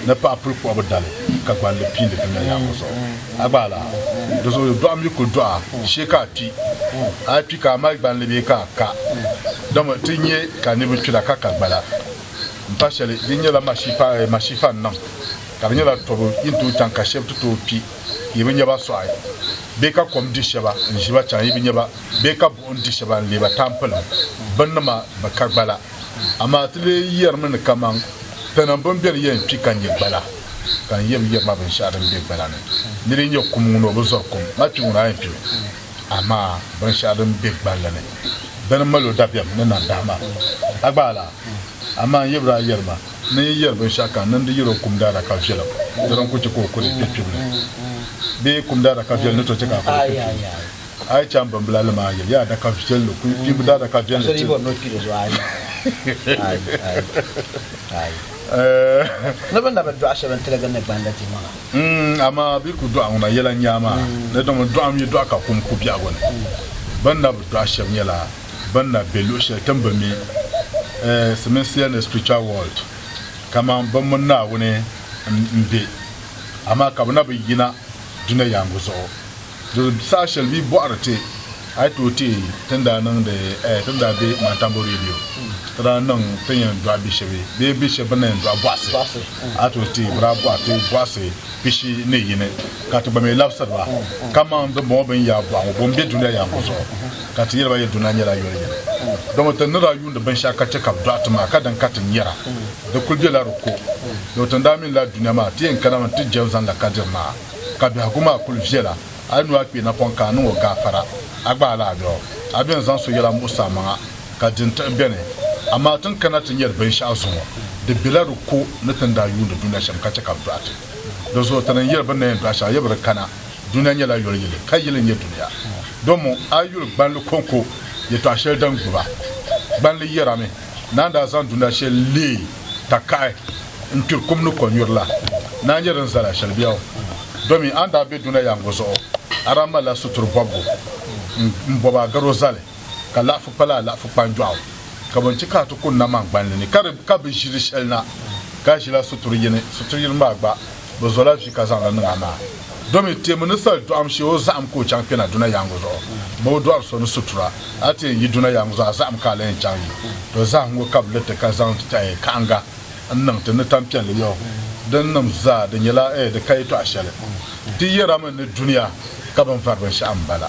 ni paɣa puli kpuɣi bi dali ka gballi piindi dunia yaako zuɣu. A gba a lahi? Di zuɣu dɔɣu mi kul dɔɣi a shee ka a kpi. A yi kpi ka a mali gballi bee ka a ka? Dama ti nya ka niriba kpira ka ka gbala. M pa shɛli, di nyɛla mashiifa n-niŋ, ka di nyɛla tɔbu yi ni tooi chaŋ ka shɛba ti tooi kpi, yi bi nya ba sɔɣi, bee ka kom di shɛba n-ʒi ba chaŋ, yi bi nya ba, bee ka buɣim di shɛba n-leei ba tampilim. Binnima bi ka gbala. Amaa ti lee yɛrimi ni kaman pɛnima bini beni yɛn kpi ka nya gbala, ka n yɛn bi yɛri ma binshɛɣu din be gbala ni. Nir yi nya kum ŋun o bi zɔri kum, ma kpi ŋun a yɛn kpi o. Amaa binshɛɣu din be gballi ni, bɛ ni mal o dabiɛm ni nandahi ma. A gba a la? Amaa n yɛbir a yɛrima ni n yi yɛri binshɛɣu ka n niŋdi yɛri o kum daadaka viɛlim, di ni ku chɛ ka o kuli kpe kpibili. Bee kum daadaka viɛlim ni tooi chɛ ka a kuli kpe kpibili? A yi chaŋ bimbila li maa yili, yi adaka viɛlli kuli kpibi daadaka viɛlli ti li. Amaa bɛ ku dɔɣi ŋuna yɛla n-nya maa ni domi dɔɣim yi dɔɣi ka kum ku biɛhigu ni. Bɛ ni na bi dɔɣi shɛb nyɛla bɛ ni na be luɣ shɛli ti ni bi mi siminsiya ni spiritual world kaman bɛ mini Naawuni m-be, amaa ka bɛ na bi yina dunia yaaŋa zuɣu. Di saha shɛli bɛ yi bɔhiri ti a yi tooi teei ti ni daa niŋdi eh, ti ni daa be Mantambo Radio, ti daa niŋ ti ni yɛn dɔɣi bi shɛba bee bi shɛba bɛ ni daa yɛn dɔɣi bɔhisi, a yi tooi teei bɛ daa bɔhi ti bɔhisi pishi ni yini ka ti gba mi labisiri ba kaman dimbɔŋɔ bɛ ni yaa bɔhi ŋɔ, Bom be dunia yaaŋɔ zuɣu? Ka ti yɛli ba yɛli dunia nyɛla yoli yini. Dama ti ni daa yuundi binshɛɣu ka chɛ ka bɛ dɔɣi ti maa ka din ka ti nyara di kuli bela di ko. Dama ti ni daa minila dunia maa ti yɛn kanami nti jɛm zaŋ la kadiri maa. ka biɛhigu maa kuli viɛla, a yi lu a kpee napɔŋ ka a niŋ o gaafara, a gbaai la a lɔɣu. A bɛn zaŋ so yɛla muɣisi amaŋa, ka di n-tiɣi bɛni. Amaa ti ni kana ti nyari binshɛɣu zuŋɔ, di bela di ko ni ti ni daa yuuni dunia shɛm ka chɛ ka bɛ dɔɣi ti. Dinzuɣu ti ni yɛli bɛ ni na yɛn dɔɣi shɛba, yi bi di kana, dunia nyɛla yoli yili, ka yili n-nyɛ dunia. Domu a yi yuli gbanli kɔŋko yɛtɔɣ shɛli din gbiba, gbanli yɛrami, Naa n-daa zaŋ dunia shɛli leei takaɣi n-kpiri kum ni kɔnyuri la, ni a nya din zali a shɛli bɛ o. Domin a ni daa be dunia yaaŋɔ zuɣu, a daa malila sutur bɔbigu m-bɔbi a garo zali, ka laɣifu pala a laɣifu kpanjɔɣu. Ka bɛn chɛ ka a ti kuni namangbanli ni ka di ka bi ʒi di shɛli na, ka ʒila sutur yini, sutur yini maa gba bɛ zola vi ka zaŋ li niŋ a maa. Domi teemi ni soli dɔɣim shee o zahim ka o chaŋ kpɛna duna yaaŋa zuɣu bɛ o dɔɣiri so ni sutura. A ti yɛn yi duna yaaŋa zuɣu a zahim ka a lahi yɛn chaŋ yi to zahiŋgu ka bɛ li ti ka zaŋ kahiŋga n-niŋ ti ni tampiɛlli yɔɔ din nim zaa di nyɛla di ka yɛtɔɣa shɛli ti yɛra mi ni dunia ka bɛn vari binshɛɣu m-bala.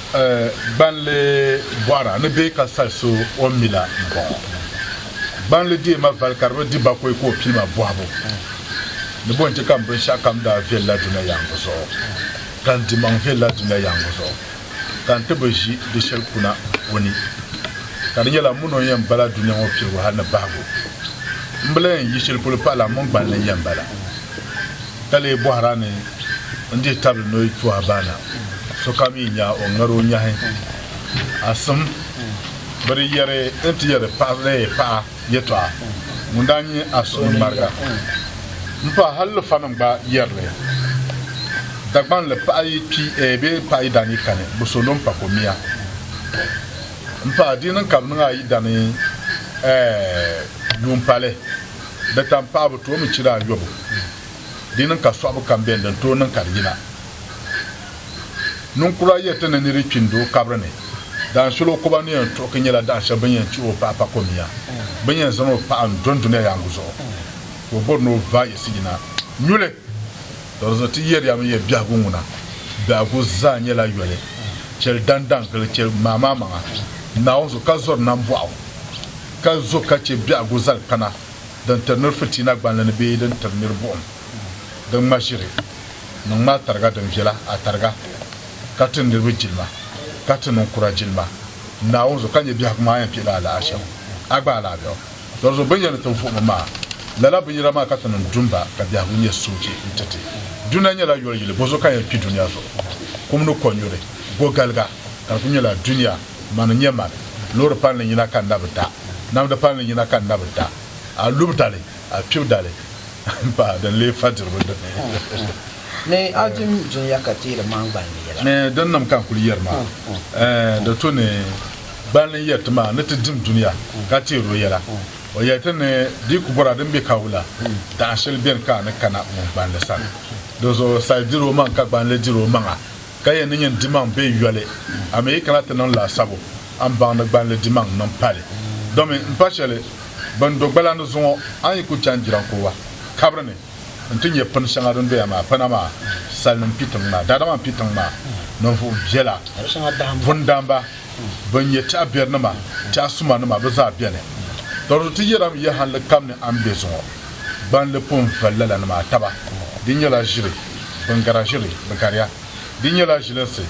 Gbanli bɔɣira ni bɛ ka sali so o mi la m-bɔŋɔ. Gbanli deei ma vali ka di bi di bakɔi ka o pii ma bɔhibu ni bɔ n-chɛ ka m binshɛɣukam daa viɛli la dunia yaaŋa zuɣu ka n dimaŋ viɛli la dunia yaaŋa zuɣu ka n ti bi ʒi di shɛli kuna o ni. Ka di nyɛla m mini o n-yɛn bala dunia ŋɔ piligu hali ni bahigu. M bi lahi yi shɛli polo pahila m mini Gbanli n-yɛn bala. Ka lee bɔhir a ni n dihi tabili noy tu a baana, sokam yi nya o ŋmɛr o nyahi. A sim, bɛ di yɛri n ti yɛri paɣisiri paɣa yɛtɔɣa ŋun daa nyi a suhu ni ŋmariga. M paɣa hal lufanim gba yɛri li. Dagbaŋ li paɣ yi kpi bee paɣ yi daa nyi kani, bɛ so lo m pa ko miya. M paɣa, di yi niŋ ka bɛ niŋ a yi dani ɛɛh yuun pali. di taŋpaɣibu tooi mi chiri ayɔbu, di ni ka sɔɣibu kam beni din tooi niŋ ka di yina. Ninkura yɛliti ni niri kpi n-do o kabiri ni, dahinshɛli o koba ni yɛn tuɣiki nyɛla dahinshɛli bɛ ni yɛn chihi o paɣa pa komiya, bɛ ni yɛn zaŋ o paɣa n-dɔn dunia yaaŋa zuɣu, ka o bɔri ni o va yiɣisi yina nyuli. Dɔrinzɔŋ ti yɛriyami yɛli biɛhigu ŋuna, Biɛhigu zaa nyɛla yoli, chɛli daŋdaŋ gili, chɛli ŋmaamaamaŋa Naawuni zuɣu, ka zɔri nambɔɣu. ka zo ka chɛ biɛhigu zali kpana din tiri nir fitiina gbanli ni bee din tiri nir buɣim din ŋma ʒiri niŋ maa tariga din viɛla a tariga, ka ti niriba jilima, ka ti niŋ kura jilima Naawuni zuɣu, ka nyɛ biɛhigu maa yɛn kpihila alahichi a gba alaabɛgu doli zuɣu. Bɛ ni yɛn ni ti vuɣim o maa, lala binyɛra maa ka ti niŋ dumba, ka biɛhigu nyɛ soochi n-ti ti. Dunia nyɛla yoli yili, bɔzuɣu ka yɛn kpi dunia zuɣu? Kum ni kɔnyuri, gogaliga, ka di kuli nyɛla dunia. Mani n-nyɛ mani, loori palli yina ka n na bi da, namdi palli yina ka n na bi da, a lubi dali, a kpibi dali m-pahi din lee fa diribu dini. Ni a dim dunia ka teeri ma n gballi yɛla. Ni dinnim ka n kuli yɛri maa, ɛɛn, di tu ni gballi n yɛri ti maa ni ti dim dunia ka teeri o yɛla. O yɛli ti ni di ku bɔra din be ka wula, daɣ shɛli beni ka a ni kana ŋun gballi sani. Dinzuɣu sal diri o maŋ ka gballi diri o maŋa. Ka yɛn ni nyin dimaŋ be yoli, a mi yi kana ti niŋ laasabu a ni baŋ ni gballi dimaŋ niŋ pali. Domin m pa sheli bini do gbalandi zuŋɔ, a ni yi ku chaŋ jirankɔwa kabiri ni nti nyɛ pini sheŋa din doya maa pina maa, salinim pi tiŋ maa, daadama m-pi tiŋ maa, ninvuɣ biela, vundamba, bɛn nyɛ tɛɣ'biɛrinima, tɛɣ'sumanima bɛ zaa beni. Tɔrizu ti yɛra mi yɛhilli kam ni a ni be zuŋɔ, gbanli pun vali lala ni maa taba. Di nyɛla ʒiri, bɛn gari a ʒiri, bɛ gari a. Di nyɛla ʒilinsi,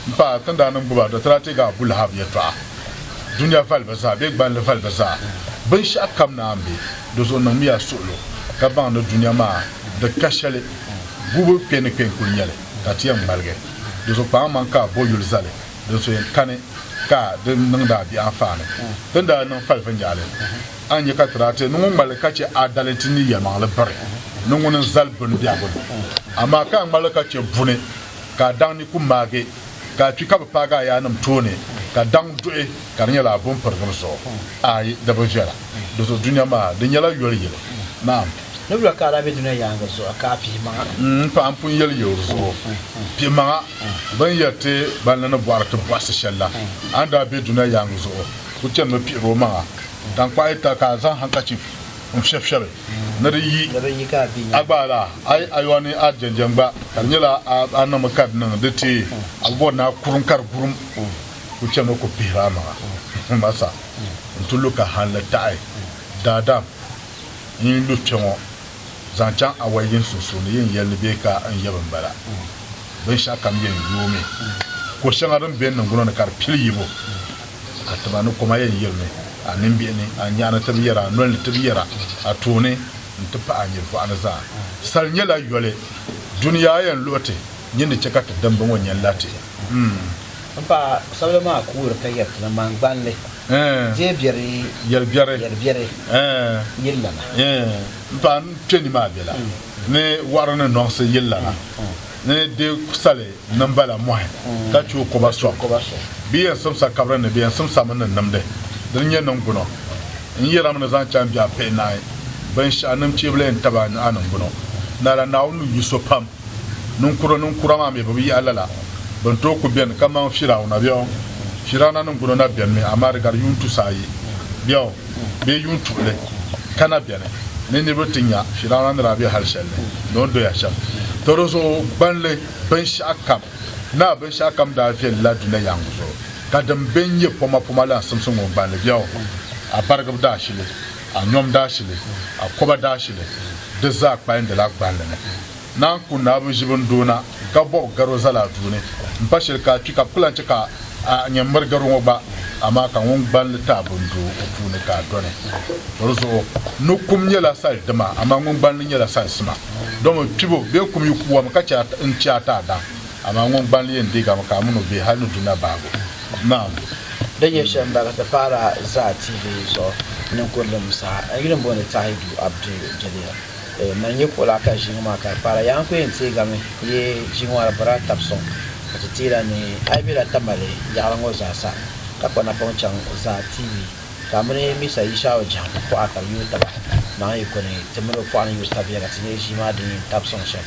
m paɣa, ti ni daa niŋ gbubi a dɔtira teeg a Abu Lahab yɛtɔɣa. Dunia vali bɛ zaa bee gbanli vali bɛ zaa, binshɛɣu kam ni a ni be di zuɣu niŋmiya suɣilo, ka baŋ ni dunia maa di ka shɛli gubu kpe ni kpe n-kul nyɛli, ka ti yɛn ŋmaligi di zuɣu kpaŋmaŋ ka a bo yuli zali. din so yɛn kani ka di niŋdi a bihi anfaani. Ti ni daa niŋ falifu n-yaali, a ni nya ka ti daa ti ni ŋun ŋmaligi ka chɛ a dali nti ni yɛlimaŋli biri ni ŋuni n-zali bini biɛhigu ni. Amaa ka a ŋmaligi ka chɛ buni ka a daŋ ni ku maagi ka a kpi ka bɛ paagi a yaannim tooni ka daŋ duhi ka di nyɛla a bo m-pirigim zuɣu? Aai, di bi viɛla. Di zuɣu dunia maa, di nyɛla yoli yili. Naam. Nibila ka a daa be dunia yaaŋa zuɣu ka a pihimaŋa. M paɣa n pun yeli ya o zuɣu, pihimaŋa, bini ya ti ban ni ni bɔhiri ti bɔhisi sheli la, a ni daa be dunia yaaŋa zuɣu ku chanimi pihiri o maŋa. Tankpaɣu yi ta ka a zaŋ handkerchief n fɛbi fɛbi ni di yi, a gbaai la, ayi ayɔa ni a jɛnjɛŋ gba, ka di nyɛla a niŋmi ka di niŋ di teei, a bi bɔri ni a kurum ka di gurum, ku chanimi ku pihiri a maŋa. Masa, n ti lu ka hanli taɣi daadam. N yi lu kpɛŋɔ zaŋ chaŋ awɔi yin sunsuuni yin yɛli ni bee ka n yab n bala. Binshɛɣukam yɛn yoomi. Ko shɛŋa din be n niŋgbuno ni ka di pili yibu. A tima ni koma yɛn yirimi a nimbihi ni, a nyɛɣu ni ti bi yɛra, a noli ni ti bi yɛra, a tooni nti pahi a nyilivɔɣu ni zaa. Sal nyɛla yoli. Dunia yɛn luɣi ti, nyin ni chɛ ka ti dimba ŋɔ nyɛ n la ti? M paɣa, sabila maa kuuri ka yɛri ti ni ŋmangbanli deei biɛri yɛlibiɛri yillana. M paɣa, m kpe ni maa bela ni wɔɣiri ni nɔŋsi yillana ni di sali nimbala mɔhi ka chi o koba sɔŋ. Bɛ yɛn simsa kabiri ni bɛ yɛn simsami ni nimdi dini nyɛ niŋgbuno. N yɛrimi ni zaŋ chaŋ biɛɣu pihi naai binshɛɣu ni m chɛbili n taba a nuhi a niŋgbuno. Naala Naawuni ni yu so pam. Ninkura ninkura maa mi bɛ bi yahi lala bɛn tooi ku beni kaman Firawuna biɛɣu. Firawuna niŋgbuno na benimi, amaa di gari yuun tusi ayi biɛɣu bee yuun tuɣili ka na beni ni niriba ti nya Firawuna ni daa be hal shɛli ni ni o ni doya shɛm. Tɔ di zuɣu gbanli binshɛɣukam naai binshɛɣukam daa viɛlila dunia yaŋgu zuɣu, ka din be n-nyɛ pomapoma la n-simsi ŋɔ gbanli biɛɣu a barigib daashili. A nyom daashili, a koba daashili, di zaa kpayindila gballi ni. Naan ku naai bi ʒi bini doo na, ka bɔbi garo zali a duu ni. M pa shili ka a kpi ka bɛ ku lan chɛ ka a nya m miri garo ŋɔ gba. Amaa ka ŋun gballi taai bini doo o puu ni ka a dɔni. Bɔ di zuɣu, no kum nyɛla sal dima, amaa ŋun gballi nyɛla sal sima. Dama kpibo bee kum yi ku wami ka chɛ a taai da, amaa ŋun gballi yɛn deegami ka a min o be hal ni du na baabu. Ma'am, di nyɛ shɛm m-bala ti paara zaa TV zuɣu ninkurulim saha. N yuli m-booni Tahidu Abdu Jeliya. N mali nyɛ kuɣu la ka ʒiŋa maa ka di paara. Yaa n ku yɛn teegami yi ʒiŋa maa di bɔrila tabi sɔŋ ka ti ti yi la nuhi. A yi be la Tamale yaɣili ŋɔ zaa sa ka kpa napɔŋ chaŋ zaa TV ka a mini Misa Yishau Jaham pɔɣa ka bɛ yooi taba, naɣim yi kuni ti mini o pɔɣa ni yooi tabiya ka ti nyɛ ʒii maa din yɛn tabi sɔŋ shɛm.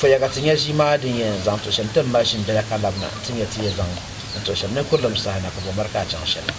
Poya ka ti nya ʒii maa din yɛn zaŋ tuhi shɛm ti m-mali ʒini bela ka lab na ti nya ti yɛn zaŋ n tuhi shɛm ni kurilim saha na ka bɔmɔri ka a chaŋ shɛli.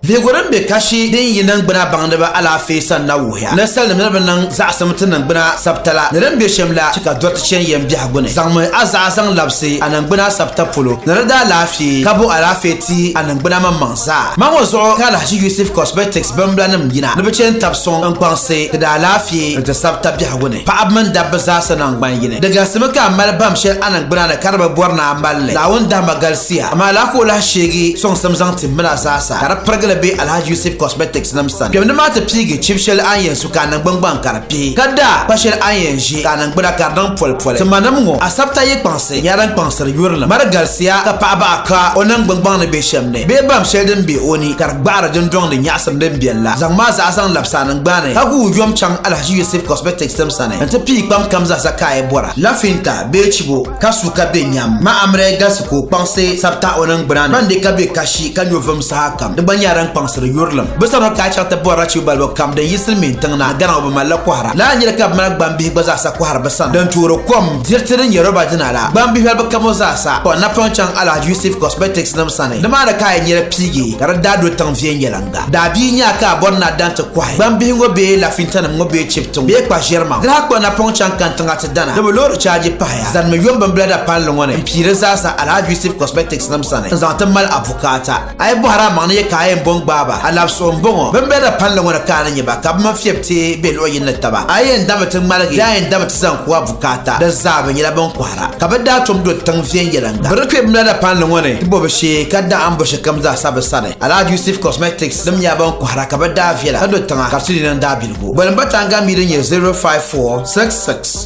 Bihigu din be kashi din yi niŋgbuna baŋdiba alaafee sani na wuhiya ni salinima ni bi niŋ zaɣisim ti niŋgbuna sabita la ni din be shɛm la chɛ ka dɔriti chani yɛn biɛhigu ni. Zaŋmi a zaɣa zaŋ labisi a niŋgbuna sabita polo ni di daalaafee ka bo alaafee ti a niŋgbuna maŋmaŋsi. zaa. Maa ŋɔ zuɣu ka Alhaji Yusuf Cosmetics bimblanim yina ni bɛ che n-tab suŋ n-kpaŋsi ti daalaafee ni ti sabita biɛhigu ni paɣaba mini dabba zaasa naŋgban yini. Di galisimi ka a mali bahim shɛli a niŋgbuna ni ka di bi bɔri ni a mali li. Naawuni dahima galisiya, amaa lala ka o lahi sheegi sɔŋsim zaŋ tihimil a zaasa ka di pirigili be Alhaji Yusuf Cosmetics nim sani. Kpɛmdi maa ti piigi chibi shɛli a ni yɛn su ka a niŋgbuŋ gbaŋ ka di pihi, ka daa kpa shɛli a ni yɛn ʒi ka a niŋgbuna ka di niŋ poli poli. Ti manim ŋɔ, a sabita yi kpaŋsi. Ti nyɛla din kpaŋsiri yurilim mari galisiya ka paɣi baɣa ka o niŋgbuŋ gbaŋ ni be shɛm ni bee bam shɛli din be o ni ka di gbaɣiri dindɔŋ ni nyaɣisim din beni la. Zaŋm a zaɣa zaŋ labisi a niŋgbani ka guui yom chaŋ Alhaji Yusuf Cosmetics tim sani nti pii kpam kam zaɣisa ka a yi bɔra lafinta bee chibo ka su ka be nyam ma Amrɛ galisi ka o kpaŋsi sabita o niŋgbuna ni ban be ka be kashi ka nyo vum sahakam di gba nyɛla din kpaŋsiri yurilim bɛ sani ka a chaŋ ti bɔri achibo balibu kam din yi silimiintiŋ na a gana ŋɔ bɛ malila kɔhira lala nyɛla ka bɛ mali gbambihi gba zaɣisa kɔhiri bɛ sani din toori kom Diriti din nyɛ roba dina la, gbambihi bi kamo zaasa, kpuɣi napɔŋ chaŋ Alhaji Yusuf Cosmetics nim sani. Nimaani ka a yɛn nyɛla piigi ka di daa do tiŋ viɛnyɛliŋga. Daabia nyaa ka a bɔri ni a daŋ ti kɔhi gbambihi ŋɔ bee lafintanim ŋɔ bee chibiti ŋɔ bee kpa ʒiɛrimaŋ. Dinahi kpuɣi napɔŋ chaŋ kantiŋa ti dana ni bi loori chaaji pahaya zanimi yombimbila dapalli ŋɔ ni m-piiri zaasa Alhaji Yusuf Cosmetics nim sani n-zaŋ ti mali a bukaata. A yi bɔhiri a maŋ ni yɛ ka a yɛn bo n-gbaai ba, a labisigu m-bɔŋɔ. Bɛ ni be di palli ŋɔ ni ka a ni nya ba, ka bɛ mini fiɛbi teei be luɣ yini ni taba. A yɛn dabimi ti ŋmaligi, di a yɛn dabimi ti zaŋ ku a bukaata, di zaa bɛ nyɛla bɛn kɔhira. Ka bɛ daa tom do tiŋ viɛnyɛliŋga. Bɛ di kpe bimla di palli ŋɔ ni ti bo bɛ shee, ka daa ambo shɛlikam zaa sa bɛ sani. Alahaji Yusuf Cosmetics nim nyɛla bɛn kɔhira, ka bɛ daa viɛla, ka do tiŋa, ka di ti di niŋ daabiligu. Boli m-ba Tanga Mii din nyɛ 054666.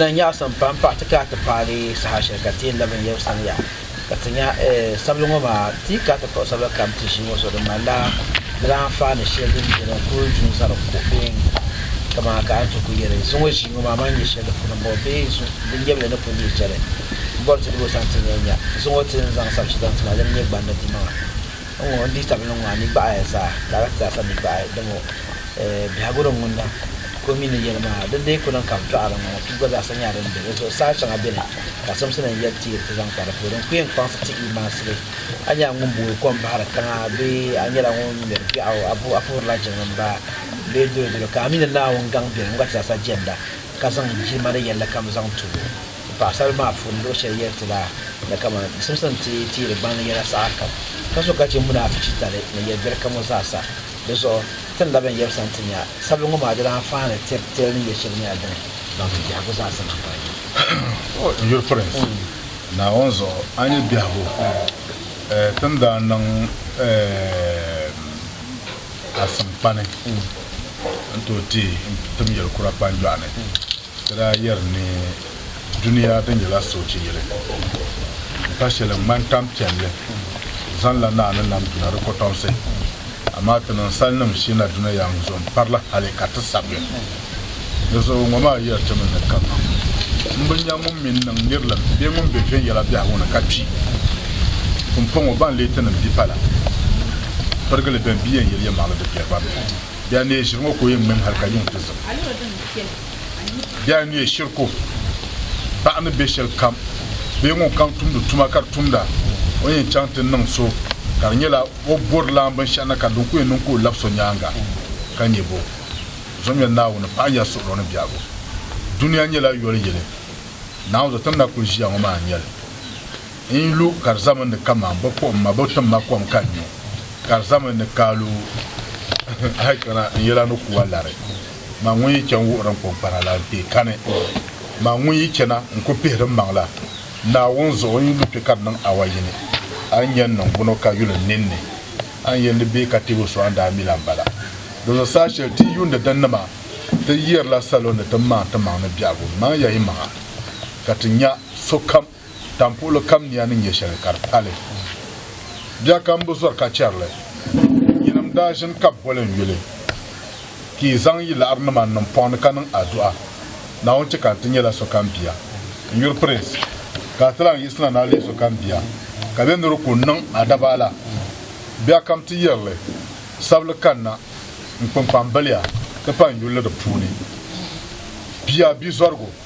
N nyaɣisi m-pa m-paɣ ti ka a ti paai li saha shɛli ka ti yɛn labi n yɛli sani ya ka ti nya sabili ŋɔ maa, ti ka a ti kpuɣi sabila kam ti ʒii ŋɔ zuɣu di ŋmanila di daa anfaani shɛli din beni n-kul du n-zani kuɣ bee n-gu kaman a ka a ni ti ku yɛli zuŋɔ ʒii ŋɔ maa, man nya shɛli di puni m-bɔŋɔ bee zuŋ din nyɛvili ni ku neei chani m-bɔri ti ni boli sani ti ni yɛn nya zuŋɔ ti ni zaŋ sabchi zaŋ ti ma di ni nyɛ gbandi dimaŋa. N ŋɔ, n dihitabili ŋɔ, a ni gbaɣi ya zaa, ka a lahi ti zaasa mi gbaɣi dama biɛhigu din ŋun niŋ ka o mi ni yɛli maa, di dii ku niŋ ka bɛ tɔɣiri n ŋɔ, piibu gba zaasa nyɛla din be di zuɣu. Saha shɛŋa beni ka simsi ni yɛri ti yiri ti zaŋ kpa di puuni, n ku yɛn kpaŋsi ti i maasili. A nyɛla ŋun booi kom bahiri tiŋa bee a nyɛla ŋun ŋmɛri biɛɣu? A bo a puhirila jiŋlim ba bee dolo dolo? Ka a mi ni Naawuni gaŋ beni, n gba ti zaasa jɛnda ka zaŋ jilima ni yɛlli kam zaŋ ti o. Ka paɣisaribila maa puuni luɣ shɛli yɛli ti la ni kaman bɛ simsim ti tiiri gbaŋ ni yɛla saha kam, ka so ka chɛ munaafitali ni yɛl biɛri kam ŋɔ zaasa. Di zuɣu ti ni labi n yɛbisa nti nya sabili ŋɔ maa di daa faai ni tiri tiri ni yɛl shɛli nyɛla din baŋ ti biɛhigu zaasa maa paya maa. O ni yuli Pirinsi Naawuni zuɣu a nya biɛhigu ti ni daa niŋ asinkpani n-tooi teei tim yɛlikura kpanjɔɣu ni. Ka daa yɛri ni, Dunia di nyɛla soochi yili, m-pa shɛli n-ŋmani tan' piɛlli, zaŋla naa ni nam duna di kɔtɔmsi, amaa ti niŋ salinim sheena duna ya ŋ zuɣu m-pari li hali ka ti sab ya. Di zuɣu ŋɔ maa yɛri ti mi ni, Kaman m bi nya ŋun mi n-niŋ nirilim bee ŋun be viɛnyɛla biɛhigu ni ka kpi. Pumpɔŋɔ, ban leei tinim bipa la pirigili bɛn bi yɛn yɛli yɛlimaŋli di biɛri ba mi. Bɛ a neei ʒiri ŋɔ ka o yɛn ŋmɛmi hal ka yuŋ ti zim. Bɛ a neei shiri ka o baɣa ni be shɛli kam bee ŋunkam tumdi tuma ka di tumda o ni yɛn chaŋ ti niŋ so ka di nyɛla o bɔri lan binshɛɣu na ka din ku yɛn niŋ ka o labi so nyaaŋa ka nyɛ bo zomya Naawuni paɣa ya suɣilo ni biɛhigu. Dunia nyɛla yoli yili Naawuni zuɣu ti ni na kuli ʒiya ŋɔ maa n-nyɛli. N yi lu ka di zami ni kaman bɛ kpuɣi ma, bɛ tim ma kom ka n nyu, ka di zami ni ka a lu hal kpɛna n yɛla ni kuwa lari. Man ŋun yi chani wuhiri n kɔŋkpana la, n kpee kani. Man ŋun yi chana, n ku pihiri m maŋ la. Naawuni zuɣu n yi lu kpe ka di niŋ awa yini, a ni yɛn niŋ buni ka yuli n ninni? A ni yɛn di bee ka tib o so a ni daa mi la m-bala? Dinzuɣu saha shɛli ti yuundi din nima, ti yɛrila salo ni ti maŋ ti maŋ ni biɛhigu, Maŋ ya yi maŋa, ka ti nya sokam. Tampuɣili kam nia ni nya shɛli ka di pali. Bia kam bi zɔri ka chɛri li. Yinim daa ʒini ka bɛ boli n yuli, Ti yi zaŋ yi laɣirinima n-niŋ pɔŋ ni ka niŋ adu'a, Naawuni chɛ ka n ti nyɛla sokam bia. N yuri Prince, ka a ti lan yiɣisina ni a leei sokam bia, ka bɛ niri ku niŋ a dabaala. Bia kam ti yɛri li, Sabili kanna, n kpunkpambiliya, ti pa n yuli di puuni. Bia bizɔrigu.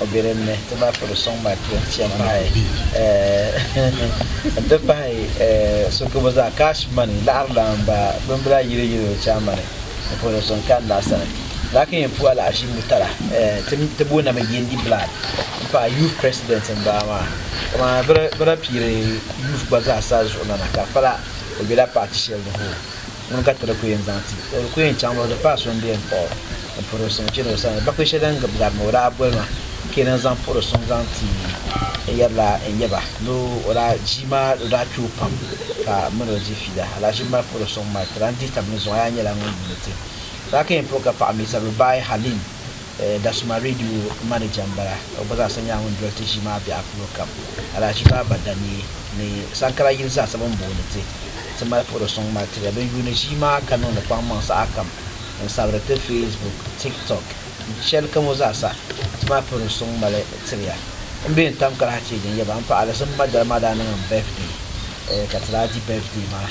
o be din ni, ti ba piri suŋ mali ti chani mahai n ti pahi sukibu zaa, cash money, laɣiri lan ba bimbila yili yili o chaama ni o piri suŋ kani naa sani. Laki n puhi alahiʒi Murtala ti booni mi Yendi Blood m pahi youth president n bala maa kaman bɛ da piiri youth gba zaa sa zuɣu na na ka pala o bela party shɛli ni hoo. ŋuni ka ti di ku yɛn zaŋ ti o di ku yɛn chaŋ mi o di paai so m-be m-paɣ o ni puri o suŋ chani o sani bakuli shɛli din gib gari ni o daa boli ma ka yɛn zaŋ puhi di suŋ zaŋ ti n yɛrila n yɛba ni o daa ʒii maa o daa kpi o pam ka m min o di fiila alahachi m mali puhi di suŋ mali ti lan dihi tab ni zuŋɔ a yaa nyɛla ŋun yuuni ti daa ka yɛn puhi ka paɣ mi sabi baai Halim Dasuma Radio manager m-bala. O gba zaasa nyɛla ŋun doli ti ʒii maa biɛɣu polo kam. Alhaji Baaba Danii ni Sankara yili zaasa bɛ ni booni ti ti mali puhiri suŋ mali tiri ya. Bɛ yuuni ʒii maa ka niŋdi kpaŋmaŋ sahakam n-sabiri ti Facebook, TikTok ni shɛli kam ŋɔ zaasa ti mali puhiri suŋ mali tiri ya. M be ni tam kali ha ti yɛli din yɛba. M paɣ Alizim Madara maa daa niŋ m birthday ka ti daa di birthday maa.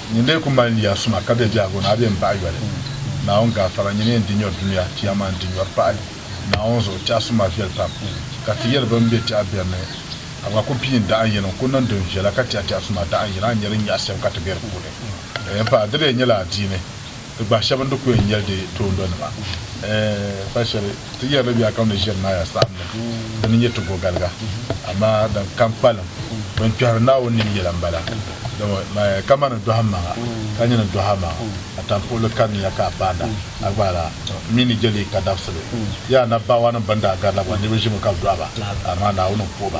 Nyin lee ku mali nia suma ka be biɛhigu ni a be m-baɣi yoli Naawuni gaafara, nyin yɛn di nyɔri dunia Chiyaman di nyɔri pahi Naawuni zuɣu Tɛha suma viɛli pam ka ti yɛli bɛn be tɛha biɛri ni ka bɛ ku piin daɣin yini n-ku niŋ din viɛla ka tɛha tɛha suma daɣin yini a ni nya din nyaɣi sɛbu ka ti be di puuni. Di lee nyɛla adiini. Di gbahi shɛba ni di ku yɛn yɛli di toondɔnima. Pal shɛli ti yɛri li biɛhakam ni Ʒirinaaya saɣimli di ni nyɛ ti bogaliga, amaa din kam kpalim din kpɛhiri Naawuni nim yɛla m-bala, dama kamani dɔhimmaŋa ka nyini dɔhamaŋa, a tampuɣili kaniya ka a paanda a gbaala, m mi ni je li ka dabisibu. Di yaa anabbaawaanim bɛn daa garila gba niriba ʒimi ka bɛ dɔhi ba, amaa Naawuni n-puhi ba.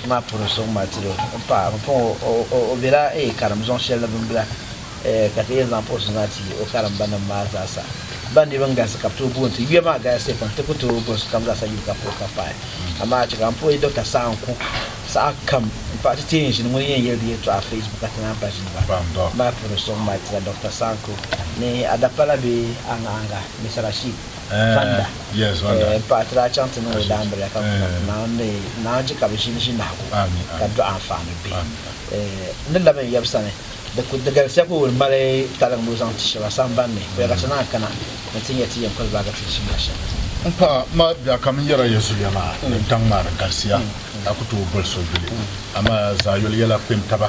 Ti maa puuni so ŋun maa tiri n paɣa bi pɔŋ o o bela ee karim zuɣu shɛli ni bin bila ee ka ti yɛn zaŋ post maa ti o karimba nim maa zaa sa ban di bin galisi ka bi tooi booni ti yuya maa galisiya pam ti ku tooi bɔri sokam zaa sa yuli ka puhi ka pahi amaa a chɛ ka n puhi Doctor saha n ku saha kam n paɣa ti tee n ʒini ŋuni yɛn yɛli di yɛltɔɣa Facebook ka ti naan pa ʒini ba ti maa puuni so ŋun maa tira Doctor saha n ku ni a dapala bee a ŋahinga Miss Rashid Zonda n paai ti daa chaŋ ti niŋ o daambiliya ka kuna ti naan ni naan chɛ ka bɛ ʒini ʒinahigu ka dɔɣi anfaani bihi n ni labi n yab sani di galisiya ka o ni mali taliŋ ni o zaŋ ti shɛb a samban ni ka ti naan kana ni ti nya ti yɛn kuli baagi ti ʒibiha shɛm. M paɣ a ma bia ka m yɛra ya zuliya maa ni daŋ maa di galisiya ka ku tooi boli so yuli amaa zaayoli yɛla kpɛntaba.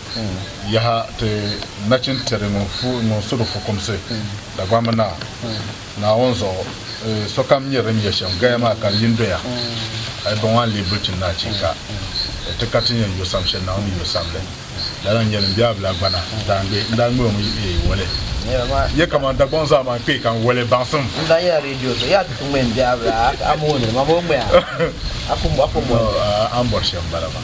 Yaha! Ti nachin tiri ŋun su di fukumsi Dagbamb Naa, Naawuni zuɣu. Sokam nyari din nyɛ shɛm gaya maa ka yin doya, hal bɔŋɔ a ni lee bilichi ni achiika! Ti ka ti ni yɛn yo sam shɛli Naawuni ni yo sam li. Lala n-nyɛ li, m biɛhabila gbana, n daa ŋme, n daa ŋme o mi woli. Nyɛ kaman Dagbɔŋ zaa maa n-kpee ka n woli baŋsim. N daa nyɛla redio so, yaa ti ti ŋme m biɛhabila, a mooni li, mam o ŋme a, a ku mɔli li. A ni bɔri shɛm m-bala maa.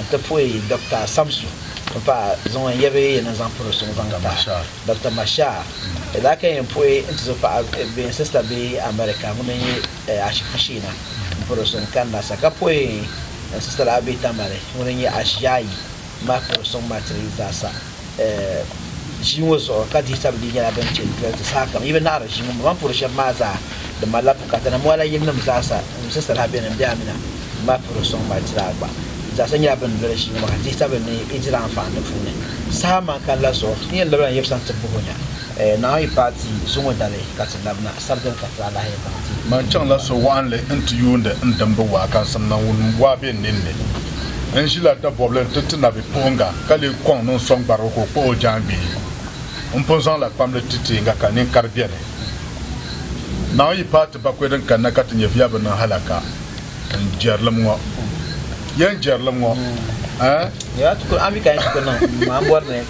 N ti puhi Dɔkta Samsu mi paai zaŋ o n-yɛbi yi ni zaŋ piri suŋ zaŋ ti a, Dɔkta Mashar. Di daa ka yɛn puhi n tizo paɣa bee n sista bee America ŋun n-yi ashibiti Shiina m-piri suŋ kanna sa, ka puhi n sista lahi bɛ Tamale ŋun n-yi Asia yi ma piri suŋ ma ti yi zaasa. ʒii ŋɔ zuɣu ka dihi sabili nyɛla din kpe n-doli ti sahakam. Yi bi naɣiri ʒii ŋɔ mɔmaŋ puuri shɛba maa zaa di malila bukata ni mɔɣila yilinim zaasa ŋun sisiri ha beni m-be Amina maa puuri sɔŋ mali ti daa gba. Di zaasa nyɛla bɛ ni doli ʒii ŋɔ maa ka dihi sabili ni yi diri anfaani di puuni. Saha man kanila zuɣu ti ni yɛn labila n-yɛbisa n-ti buhi o nya. Naawuni paati zuŋɔ dali ka ti labina sabdali ka ti alahiya baŋ ti. Man chaŋla so waɣinli nti yuundi n dimbu waakaŋsim Naawuni waa be n ninni. N ʒila dabɔbili nti ti nabipuɣiŋga ka lee kɔŋ ni n sɔŋ gbarigu ka o kpuɣi o jaangbee. M pun zaŋla kpamli ti teeŋga ka ninkari beni. Naawuni paati bakɔi din kanna ka ti nya viya bi niŋ halaka n jɛrilim ŋɔ. Yɛn jɛrilim ŋɔ, ɛɛn? Yɛla ti kul ami ka yɛn ti kul niŋ m ma m bɔri ni.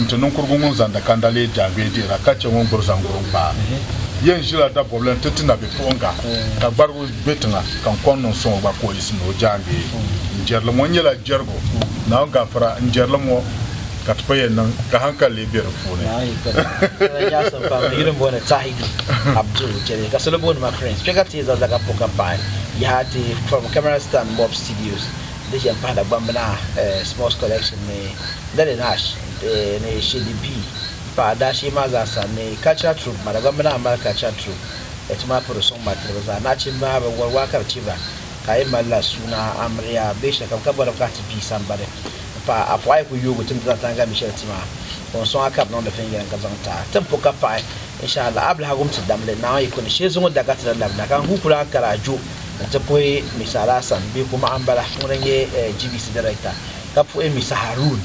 N ti niŋkurigu ŋun zaŋdi kanda leei jaangbee deera ka chɛ ŋun gbiri zaŋguri n-kpaari. Yɛn ʒila dabɔbili nti ti nabipuɣiŋga, ka gbarigi o be tiŋa, ka n kɔŋ niŋ suŋ o gba ka o yiɣisi ni o jaangbee. N jɛrili ŋɔ nyɛla jɛrigu, Naawuni gafara, n jɛrili ŋɔ ka ti pa yɛn niŋ ka haŋkali lee be di puuni. Di ʒe m-pahi Dagbambina Sports Collection ni Nelly Nash ni Shady B paɣa daashee maa zaa sa ni Cultural Troupe maa. Dagbambina m-mali Cultural Troupe ni Tuma Piri Suŋ mali tiriba zaa. Nachimba bɛ wari waa ka di chɛ ba ka a yi mali la suuna amiliya bee shɛlikam ka bɔri mi ka a ti pii sambani m-pahi a pɔɣa a yi kuli yooi o tim dina tani gami shɛli ti maa ka o ni sɔŋ a ka di niŋdi viɛnyɛliŋga zaŋ ti a ti ni po ka paɣi Insha Allah Ablahagum ti damli Naawuni yi ku ni shee zuŋɔ daga ti ni labina ka n guui ku lahi kari a jo N ti puhi Miss Alhassan bee ku maɣa m-bala ŋun daa nyɛ GBC Director, ka puhi Miss Haroon,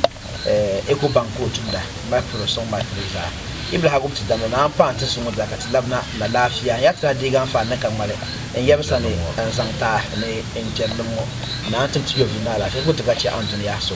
Ecobank ka o tumda, m-mali puhi li suŋ malipiligu zaa. Yi bi lahi gum ti damda ni a ni paai n-ti so ŋɔ zaa ka ti labina alaafia. N yaa ti lahi deegi a n-faai ni ka ŋmali n yaba sani n-zaŋ ti a ni n chɛri lim ŋɔ. Naa n-tim ti yɔvili ni alaafia ka ku ti ka chɛ a ni duniya so.